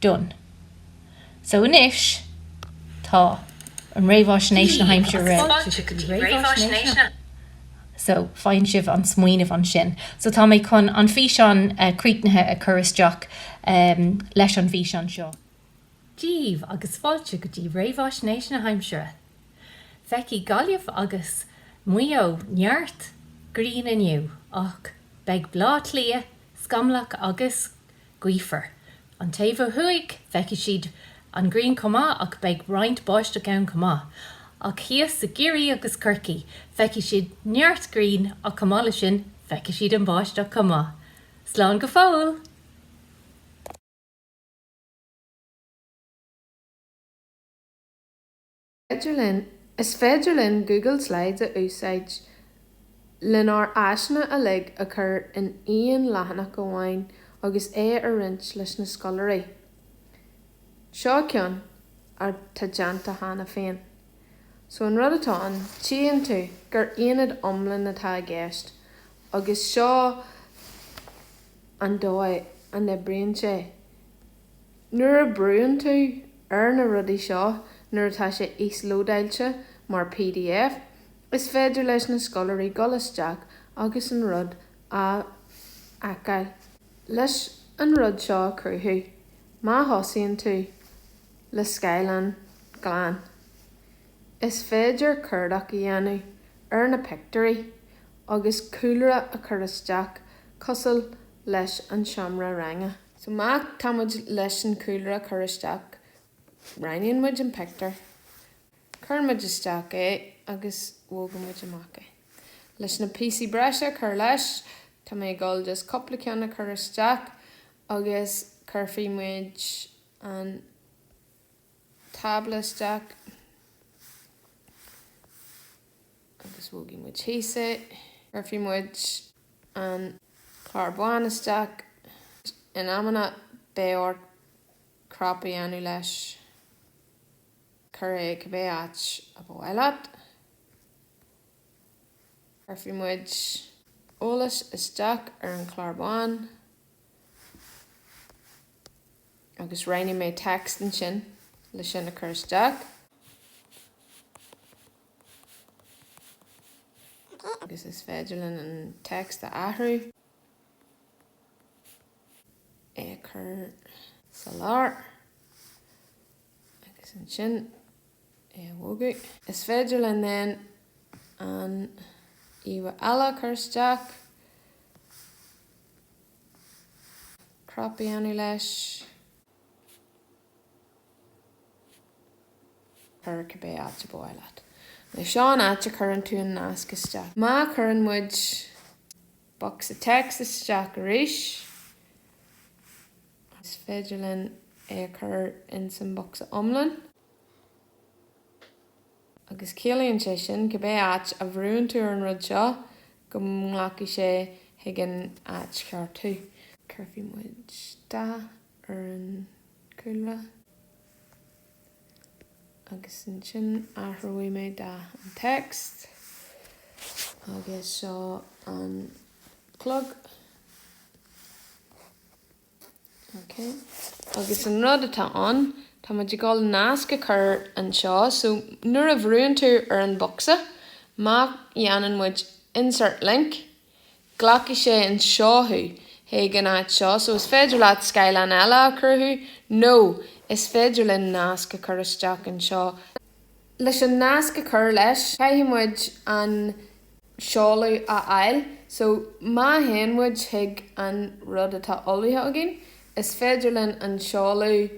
done. So anois tá an réamhaisnéis na haimsire réidh. So faigheann sibh an smaoineamh ansin. So tá mé chun an físeán críochnaithe a chur isteach leis an fhíseán seo. díbh agus fáilte go dtí réamhaisnéis na haimsire. Feicfidh Gaillimh agus Maigh Eo neart grian inniu ach beidh Bleá Cliath scamallach agus. gaofar. An taobh ó thuaidh, feicfidh siad an ghrian chomh maith ach beidh roinnt báisteach ann chomh maith. Ach thíos i gCiarraí agus Corcaigh, feicfidh siad neart grian ach chomh maith le sin, feicfidh siad an bháisteach chomh maith. Slán go fóill! Is féidir linn Google Slides a úsáid lenár áiseanna uilig a chur in aon leathanach amháin agus é a roinnt leis na scoláirí. Seo ceann atá déanta cheana féin. So an rud atá ann, tchíonn tú gur aonad iomlán atá i gceist agus seo an dóigh a n-oibríonn sé. Nuair a brúnn tú ar na rudaí seo nuair atá sé íoslódáilte mar pdf, is féidir leis na scoláirí dul isteach agus an rud a fheiceáil. Leis an rud seo a chruthú, má thosaíonn tú le scáileán glan, is féidir cuardach a dhéanamh ar na pictiúirí agus cúlra a chur isteach cosúil leis an seomra ranga. So má tá muid leis an chúlra a chur isteach, roghnaíonn muid an pictiúr, cuireann muid isteach é agus bogann muid amach é. Leis na píosaí breise a chur leis, tá mé ag dul just cúpla ceann a chur isteach agus cuirfidh muid an tábla isteach. agus bogfaidh muid thíos é. Cuirfidh muid an chlár bán isteach agus in amanna beidh ort crop a dhéanamh leis, cuir é cibé áit a ba mhaith leat. Cuirfidh muid eolas isteach ar an chlár bán agus roghnóidh mé text ansin le sin a chur isteach. agus is féidir linn an text a athrú, é a chur sa lár agus ansin é a bhogadh. Is féidir linn then an íomhá eile a chur isteach, crop a dhéanamh leis. Cuir cibé áit ab mhaith leat. Nó seo an áit a chuireann tú an nasc isteach. Má chuireann muid bocsa text isteach arís, is féidir linn é a chur ins an bocsa iomlán. Agus ciallaíonn sé sin, cibé áit a bhrúnn tú ar an rud seo, go nglacfaidh sé chuig an áit cheart thú. Cuirfidh muid dath. ar an gcúlra agus ansin athróidh mé dath an text agus seo an chlog. Ok. Agus an rud atá ann, tá muid ag dul nasc a chur anseo, so nuair a bhrúnn tú ar an bhocsa, má dhéanann muid insert link, Glacfaidh sé anseo thú, chuig an áit seo, so is féidir leat scáileán eile a chruthú, nó is féidir linn nasc a chur isteach anseo. Leis an nasc a chur leis, caithfidh muid an seoladh a fháil, so má théann muid chuig an rud atá ullmhaithe againn, is féidir linn an seoladh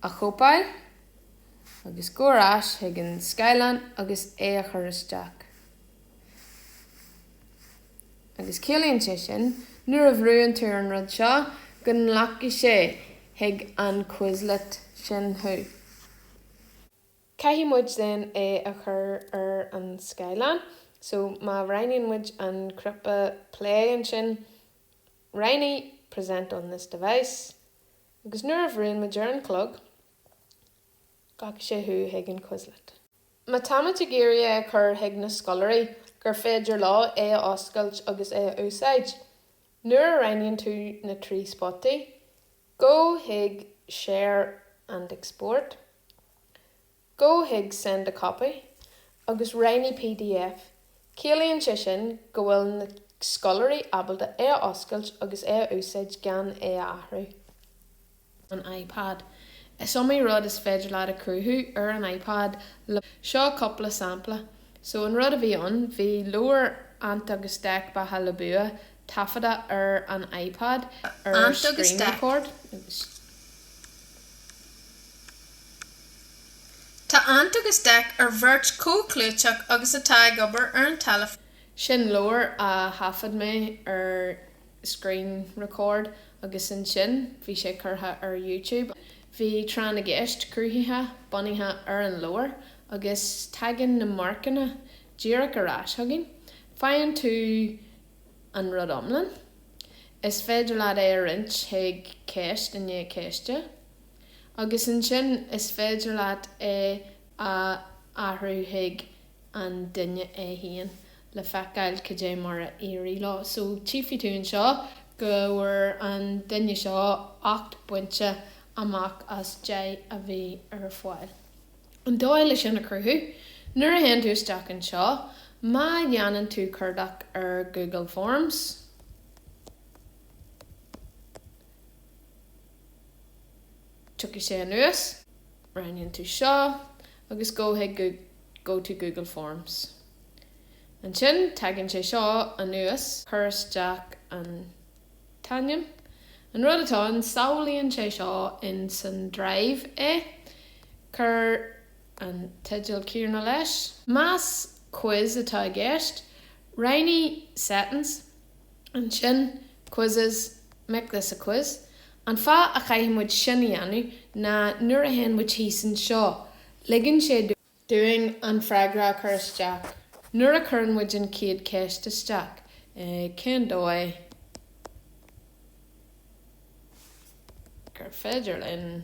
a chóipeáil agus gabháil ar ais chuig an scáileán agus é a chur isteach. Agus ciallaíonn sé sin, nuair a bhrúnn tú ar an rud seo, go nglacfaidh sé chuig an Quizlet sin thú. Caithfidh muid then é a chur ar an scáileán. So, má roghnaíonn muid an cnaipe play ansin, roghnaigh Present on this device. Agus nuair a bhrúnn muid ar an chlog, Glacfaidh sé thú chuig an Quizlet. Má táimid ag iarraidh é a chur chuig na scoláirí gur féidir leo é a oscailt agus é a úsáid, nuair a roghnaíonn tú na trí spotaí, gabh chuig Share and Export, gabh chuig Send a Copy agus roghnaigh pdf, Ciallaíonn sé sin go bhfuil na scoláirí ábalta é a oscailt agus é a úsáid gan é a athrú. an iPad. Is iomaí rud is féidir leat a chruthú ar an iPad le. Seo cúpla sampla. So an rud a bhí ann, bhí leabhar Ant agus Dec Beatha le Bua taifeadta ar an iPad ar screen record. Tá Ant agus Dec ar bheirt chomh clúiteach agus atá ag obair ar an teilifís. Sin leabhar a thaifead mé ar screen record agus ansin bhí sé curtha ar YouTube. Bhí Tráth na gCeist cruthaithe bunaithe ar an leabhar agus tagann na marcanna díreach ar ais chugainn. Faigheann tú an rud iomlán. Is féidir leat é a roinnt chuig ceist i ndiaidh ceiste. Agus ansin is féidir leat é a athrú chuig an duine é féin, le feiceáil cad é mar a éirigh leo. So tchífidh tú anseo go bhfuair an duine seo 8 bpointe amach as 10 a bhí ar fáil. An dóigh le sin a chruthú, nuair a théann tú isteach anseo, má dhéanann tú cuardach ar Google Forms, Tiocfaidh sé anuas. Roghnaíonn tú seo agus gabh chuig Go to Google Forms. Ansin tagann sé seo anuas. Cuir isteach an t-ainm. An rud atá ann, sábhálann sé seo in san Drive é. Cuir an teideal céanna leis. Más quiz atá i gceist, roghnaigh Settings. Ansin, Quizzes, Make This a Quiz, An fáth a chaithfidh muid sin a dhéanamh ná nuair a théann muid thíos anseo, ligeann sé dúinn an freagra a chur isteach. Nuair a chuireann muid an chéad cheist isteach, cén dóigh gur féidir linn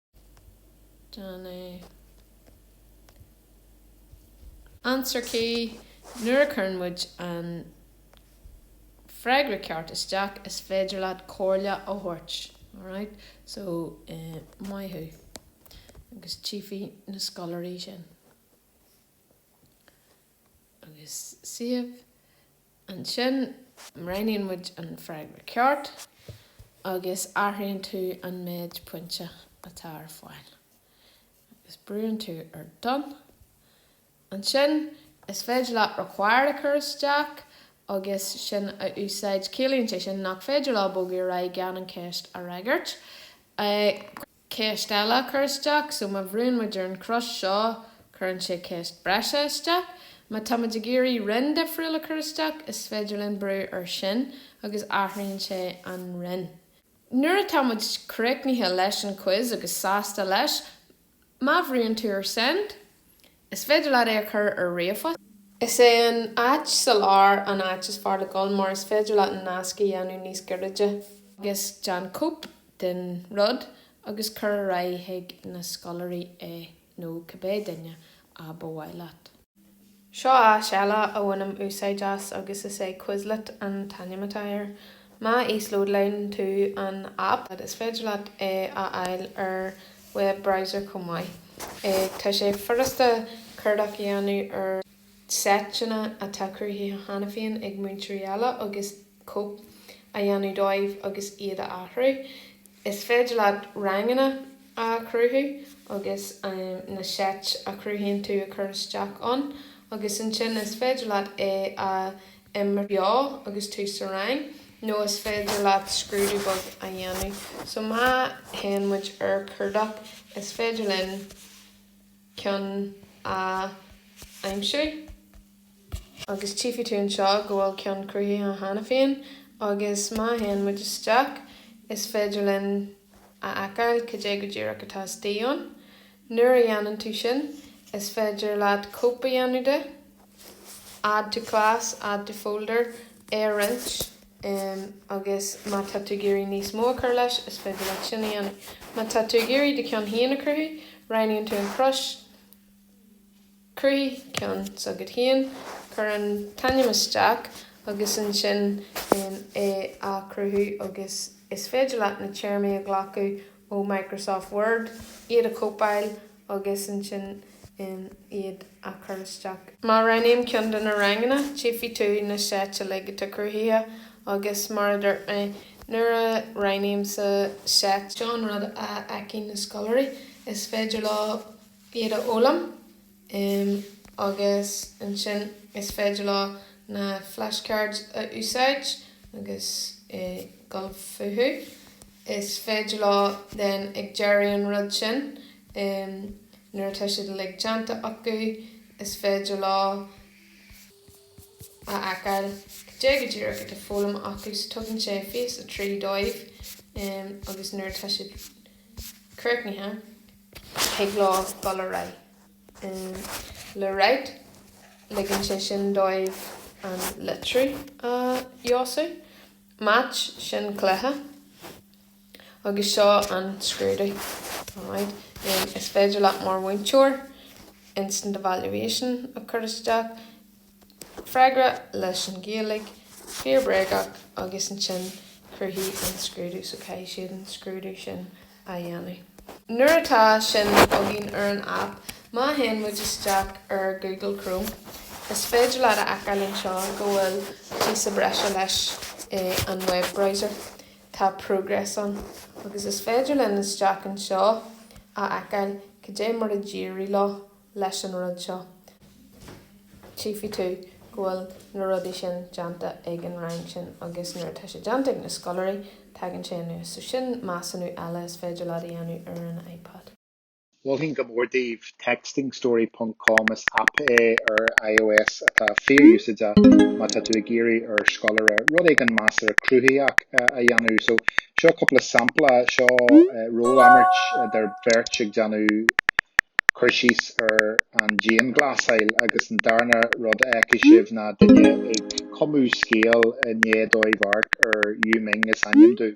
Answer key, Nuair a chuireann muid an freagra ceart isteach, is féidir leat comhairle a thabhairt. Alright? So, maith thú. Agus tchífidh na scoláirí sin. Agus save. Ansin roghnaíonn muid an freagra ceart agus athraíonn tú an méid pointe atá ar fáil agus brúnn tú ar Done. Ansin is féidir leat Required a chur isteach agus sin a úsáid. Ciallaíonn sé sin nach féidir leo bogadh ar aghaidh gan an cheist a fhreagairt. Ceist eile a chur isteach, so má bhrúnn muid ar an chrois seo, cuireann sé ceist breise isteach. Má tá muid ag iarraidh roinn difriúil a chur isteach, is féidir linn brú air sin agus athraíonn sé an roinn. Nuair atá muid críochnaithe leis an quiz agus sásta leis, má bhrúnn tú ar Send, Is féidir leat é a chur ar ríomhphost. Is é an áit sa lár an áit is fearr le dul mar is féidir leat an nasc a dhéanamh níos gairide. agus déan cóip den rud agus cuir ar aghaidh chuig na scoláirí é nó cibé duine ab a mhaith leat. Seo áis eile a bhainim úsáid as agus is é Quizlet an t-ainm atá air. Má íoslódálann tú an aip, is féidir leat é a fháil ar web browser chomh maith. Tá sé furasta cuardach a dhéanamh ar seiteanna atá cruthaithe cheana féin ag múinteoirí eile agus cóip a dhéanamh dóibh agus iad a athrú. Is féidir leat ranganna a chruthú agus na seit a chruthaíonn tú a chur isteach ann agus ansin is féidir leat é a imirt beo agus tú sa rang nó is féidir leat scrúdú beag a dhéanamh so má théann muid ar cuardach is féidir linn ceann a aimsiú agus tchífidh tú anseo go bhfuil ceann cruthaithe cheana féin agus má théann muid isteach is féidir linn a fheiceáil cad é go díreach atá istigh ann. Nuair a dhéanann tú sin is féidir leat cóip a dhéanamh de. Add to class, Add to folder é a roinnt agus má tá tú ag iarraidh níos mó a chur leis, is féidir leat sin a dhéanamh. Má tá tú ag iarraidh do cheann féin a chruthú, roghnaíonn tú an chrois Cruthaigh ceann s'agat féin, cuir an t-ainm isteach agus ansin é a chruthú agus is féidir leat na téarmaí a ghlacadh ó Microsoft Word, iad a chóipeáil agus ansin iad a chur isteach. Má roghnaím ceann de na ranganna, tchífidh tú na seit uilig atá cruthaithe agus, mar a dúirt mé, nuair a roghnaím sa seit, seo an rud a fheiceann na scoláirí, is féidir leo iad a fhoghlaim agus ansin is féidir leo na flashcards a úsáid agus dul fúthu. Is féidir leo den ag deireadh an rud sin, nuair atá siad uilig déanta acu, is féidir leo a fheiceáil cad é go díreach atá foghlamtha acu, so tugann sé fís 3 dóibh agus nuair atá siad críochnaithe, thig leo dul ar aghaidh le write, ligeann sé sin dóibh an litriú a fheabhsú. Match, sin cluiche. Agus seo an scrúdú. Alright. Em, is féidir leat mar mhúinteoir instant evaluation a chur isteach, freagra leis an Ghaeilge, fíor bréagach, agus ansin cruthaíonn an scrúdú, so caithfidh siad an scrúdú sin. a dhéanamh. Nuair atá sin againn ar an aip, má théann muid isteach ar Google Chrome, is féidir leat a fheiceáil anseo go bhfuil píosa breise leis in an web browser. Tá Progress ann. Agus is féidir linn isteach anseo a fheiceáil cad é mar a d'éirigh leo. leis an rud seo. Chífidh tú go bhfuil na rudaí sin déanta ag an rang sin agus nuair atá sé déanta ag na scoláirí, tagann sé anuas. So sin measúnú eile is féidir leat a dhéanamh ar an iPad. Mholfainn go mór daoibh Textingstory ponc com, is aip é ar ios atá fíor-úsáideach má tá tú ag iarraidh ar scoláire rud éigin measartha cruthaitheach a dhéanamh. So seo cúpla sampla, seo rólimirt idir. beirt ag déanamh cur síos ar an dianghlasáil agus an darna rud a fheicfidh sibh ná duine ag cumadh scéal i ndiaidh dóibh amharc ar Yu Ming is ainm dom.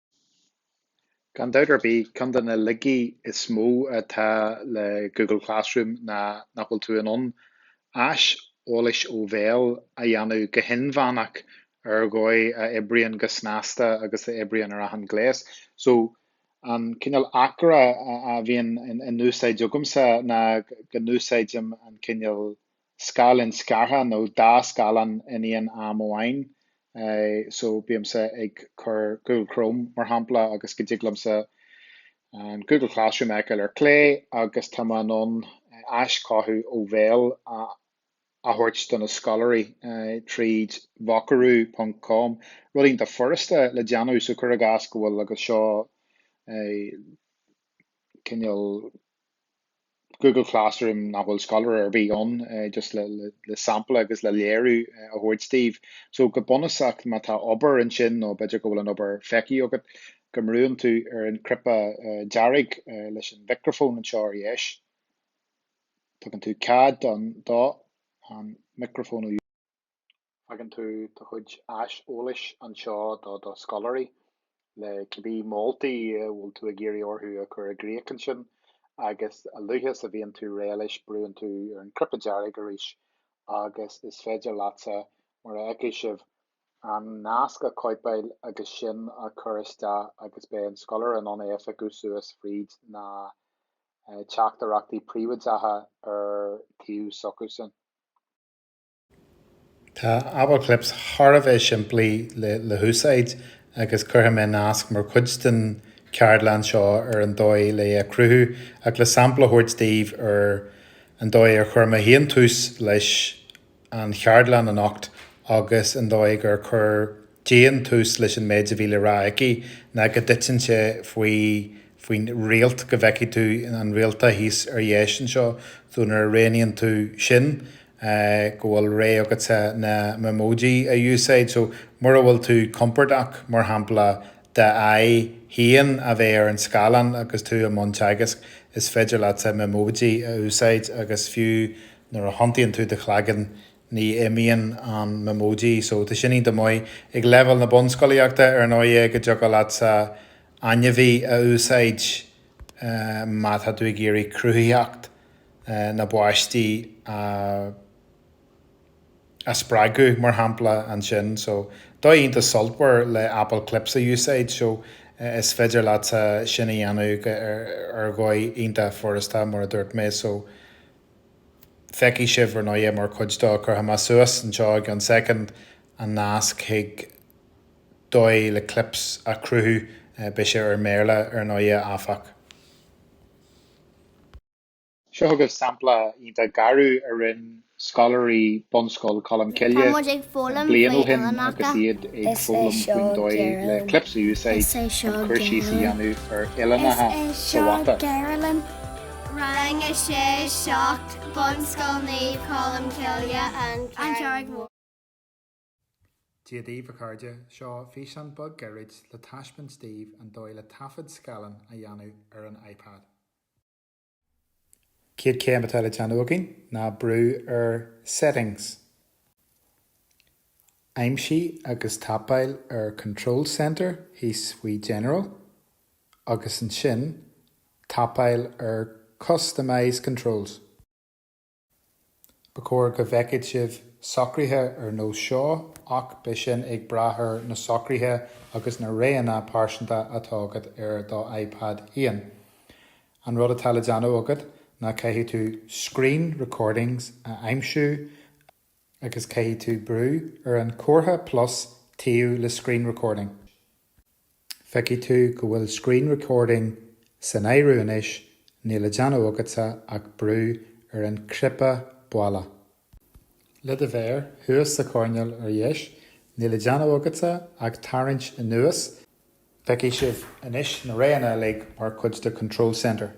Gan dabht ar bith, ceann de na laigí is mó atá le Google Classroom ná nach bhfuil tú in ann aiseolas ó bhéal a dhéanamh go hinmheánach ar dhóigh a oibríonn go snasta agus a oibríonn ar achan ghléas. So, an cineál aicearra a bhíonn in úsáid agamsa ná go n-úsáidim an cineál. scáileán scartha nó dá scáileán in aon am amháin so bímse ag cur Google Chrome mar shampla agus go dtig liomsa an Google Classroom a fheiceáil ar clé agus tá mé in ann aischothú ó bhéal a thabhairt do na scoláirí tríd vocaroo ponc com, rud iontach furasta le déanamh so cuir i gcás go bhfuil agus seo cineál. Google Classroom nach bhfuil scoláire ar bith ann, just le sampla agus le léiriú a thabhairt daoibh. So go bunúsach má tá obair ansin nó b'fhéidir go bhfuil an obair feicthe agat, go mbrúann tú ar an chnaipe dearg leis an mhicreafón anseo ar dheis. Tugann tú cead don do an micreafón a Fágann tú do chuid aiseolais anseo do do scoláirí, le cibé moltaí a bhfuil tú ag iarraidh orthu a chur i gcrích ansin, agus a luaithe is a bhíonn tú réidh leis, brúann tú ar an gcnaipe dearg arís agus is féidir leatsa, mar a fheicfidh sibh, an nasc a chóipeáil agus sin a chur isteach agus beidh an scoláire in ann é a phiocadh suas fríd na teachtaireachtaí príobháideacha ar an taobh s'acusan. Tá Apple Clips thar a bheith simplí le húsáid agus cuirfidh mé nasc mar chuid den cheardlann seo ar an dóigh le é a chruthú ach le sampla a thabhairt daoibh ar an dóigh ar chuir mé féin tús leis an cheardlann anocht agus an dóigh ar chuir Dian tús leis an méid a bhí le rá aici ná go dtiteann sé faoi faoin réalta go bhfeicfidh tú an réalta thíos ar dheis anseo so nuair a roghnaíonn tú sin go bhfuil rogha agatsa na Memoji a úsáid so mura bhfuil tú compordach mar shampla d'aghaidh féin a bheith ar an scáileán agus tú i mbun teagaisc is féidir leatsa Memoji a úsáid agus fiú nuair a thiontaíonn tú do chloigeann ní imíonn an Memoji so tá sin iontach maith ag leibhéal na bunscolaíochta ar ndóighe go dtiocfadh leatsa ainmhí a úsáid má tá tú ag iarraidh cruthaitheacht na bpáistí a a spreagadh mar shampla ansin so dóigh iontach sultmhar le apple clips a úsáid so is féidir leatsa sin a dhéanamh ar dhóigh iontach furasta mar a dúirt mé so Feicfidh sibh, ar ndóighe, mar chuid de, cuirfidh mé suas anseo i gceann soicind, an nasc chuig dóigh le clips a chruthú. Beidh sé i mBéarla, ar ndóighe, áfach. Seo chugaibh sampla iontach gairid a rinne scoláirí Bunscoil Cholm Cille bliain ó shin agus iad ag foghlaim faoin dóigh le clips a úsáid chun cur síos a dhéanamh ar uillinneacha sa mhata. Rang 6, 7, Bunscoil Naomh Colm Cille, An Charraig Mhór. Dia daoibh a chairde, seo físeán beag gairid le taispeáint daoibh an dóigh le taifead scáileáin a dhéanamh ar an iPad. Céad céim atá le déanamh againn ná brú ar Settings. Aimsigh agus tapáil ar Control Centre thíos faoi General agus ansin tapáil ar Customize Controls. Ba chóir go bhfeicfidh sibh socruithe ar nós seo ach beidh sin ag brath ar na socruithe agus na roghanna pearsanta atá agat ar do iPad féin. An rud atá le déanamh agat ná caithfidh tú Screen Recordings a aimsiú a agus caithfidh tú brú ar an comhartha plus taobh le Screen Recording. Feicfidh tú go bhfuil Screen Recording san áireamh anois, níl le déanamh agatsa ach brú ar an cnaipe baile. Le do mhéar thuas sa choirnéal ar dheis, níl le déanamh agatsa ach tarraingt anuas Feicfidh sibh anois na roghanna uilig mar chuid de Control Center.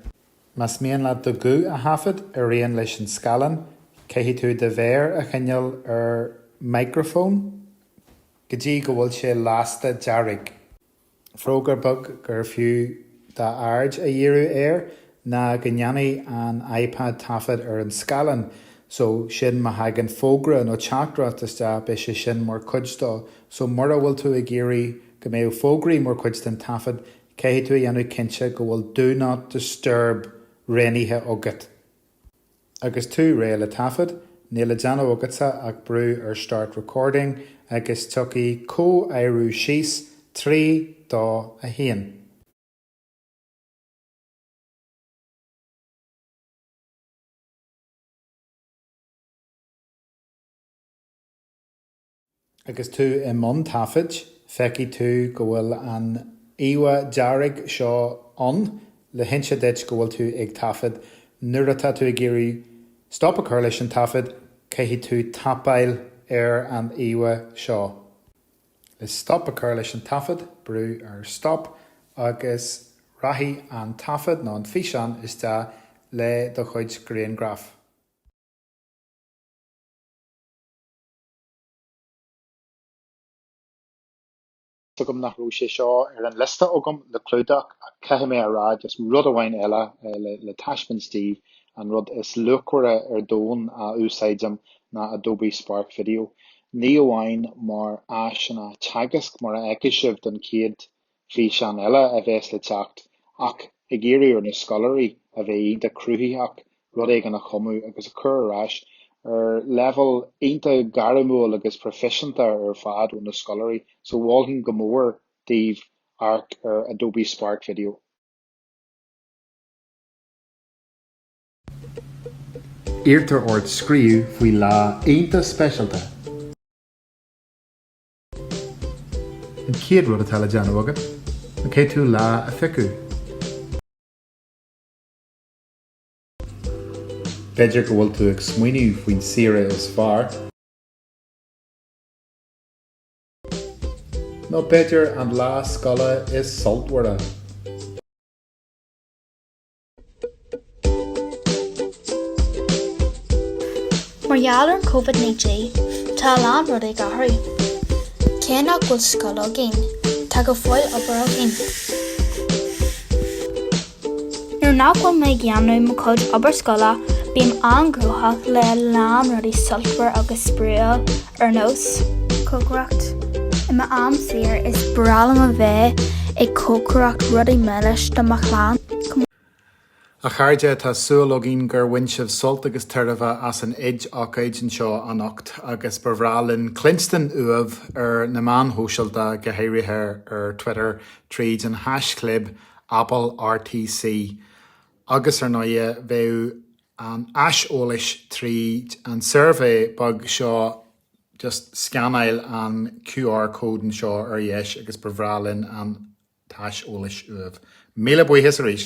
Más mian leat do ghuth a thaifead ar aon leis an scáileán, caithfidh tú do mhéar a choinneáil ar micreafón go dtí go bhfuil sé lasta dearg. Fógra beag gur fiú d'aird a dhíriú air Ná go ndéanfaidh an iPad taifead ar an scáileán, só sin má thagann fógra nó teachtaireacht isteach beidh sé sin mar chuid de. Só mura bhfuil tú ag iarraidh go mbeadh fógraí mar chuid den taifead, caithfidh tú a dhéanamh cinnte go bhfuil Do Not Disturb roghnaithe agat. Agus tú réidh le taifead, níl le déanamh agatsa ach brú ar Start Recording agus tiocfaidh comhaireamh síos trí, dó, a haon. Agus tú i mbun taifid, feicfidh tú go bhfuil an íomhá dearg seo ann le hinse duit go bhfuil tú ag taifead. Nuair atá tú ag iarraidh stop a chur leis an taifead, caithfidh tú tapáil ar an íomhá seo. Le stop a chur leis an taifead, brúigh ar Stop agus rachaidh an taifead nó an físeán isteach le do chuid grianghraf. Tá a fhios agam nach raibh sé seo ar an liosta agam le clúdach ach caithfidh mé a rá just rud amháin eile le taispeáint daoibh, an rud is luachmhaire ar domhan a úsáidim ná Adobe Spark Video. ní amháin mar áiseanna teagaisc, mar a fheicfidh sibh den chéad físeán eile a bheas le teacht, ach ag iarraidh ar na scoláirí a bheith iontach cruthaitheach, rud éigin a chumadh agus a chur ar ais ar leibhéal iontach gairmiúil agus proifisiúnta ar fad ó na scoláirí. Só mholfainn go mór daoibh amharc ar Adobe Spark Video. Iarrtar ort scríobh faoi lá iontach speisialta. An chéad rud atá le déanamh agat ná cén lá a phiocadh. B'fhéidir go bhfuil tú ag smaoineamh faoin saoire is fearr. Nó b'fhéidir an lá scoile is sultmhara. Mar gheall ar an Covid-19, tá a lán rudaí ag athrú. Cé nach bhfuil scoil againn, tá go fóill obair againn. Nuair nach bhfuil mé ag dhéanamh mo chuid obair scoile, bím an-gnóthach le a lán rudaí sultmhar agus spraíúil ar nós cócaireacht. I m'am saor is breá liom a bheith ag cócaireacht rudaí milis do mo chlann. A chairde, tá súil againn gur bhain sibh sult agus tairbhe as an óid ócáid anseo anocht agus ba bhreá linn cluinstin uaibh ar na meáin shóisialta, go háirithe ar Twitter tríd an haischlib AppleRTC. Agus ar ndóighe, bheadh. an aiseolas tríd an suirbhé beag seo just scannáil an QR code anseo ar dheis agus ba bhreá linn an t-aiseolas uaibh. Míle buíochas arís!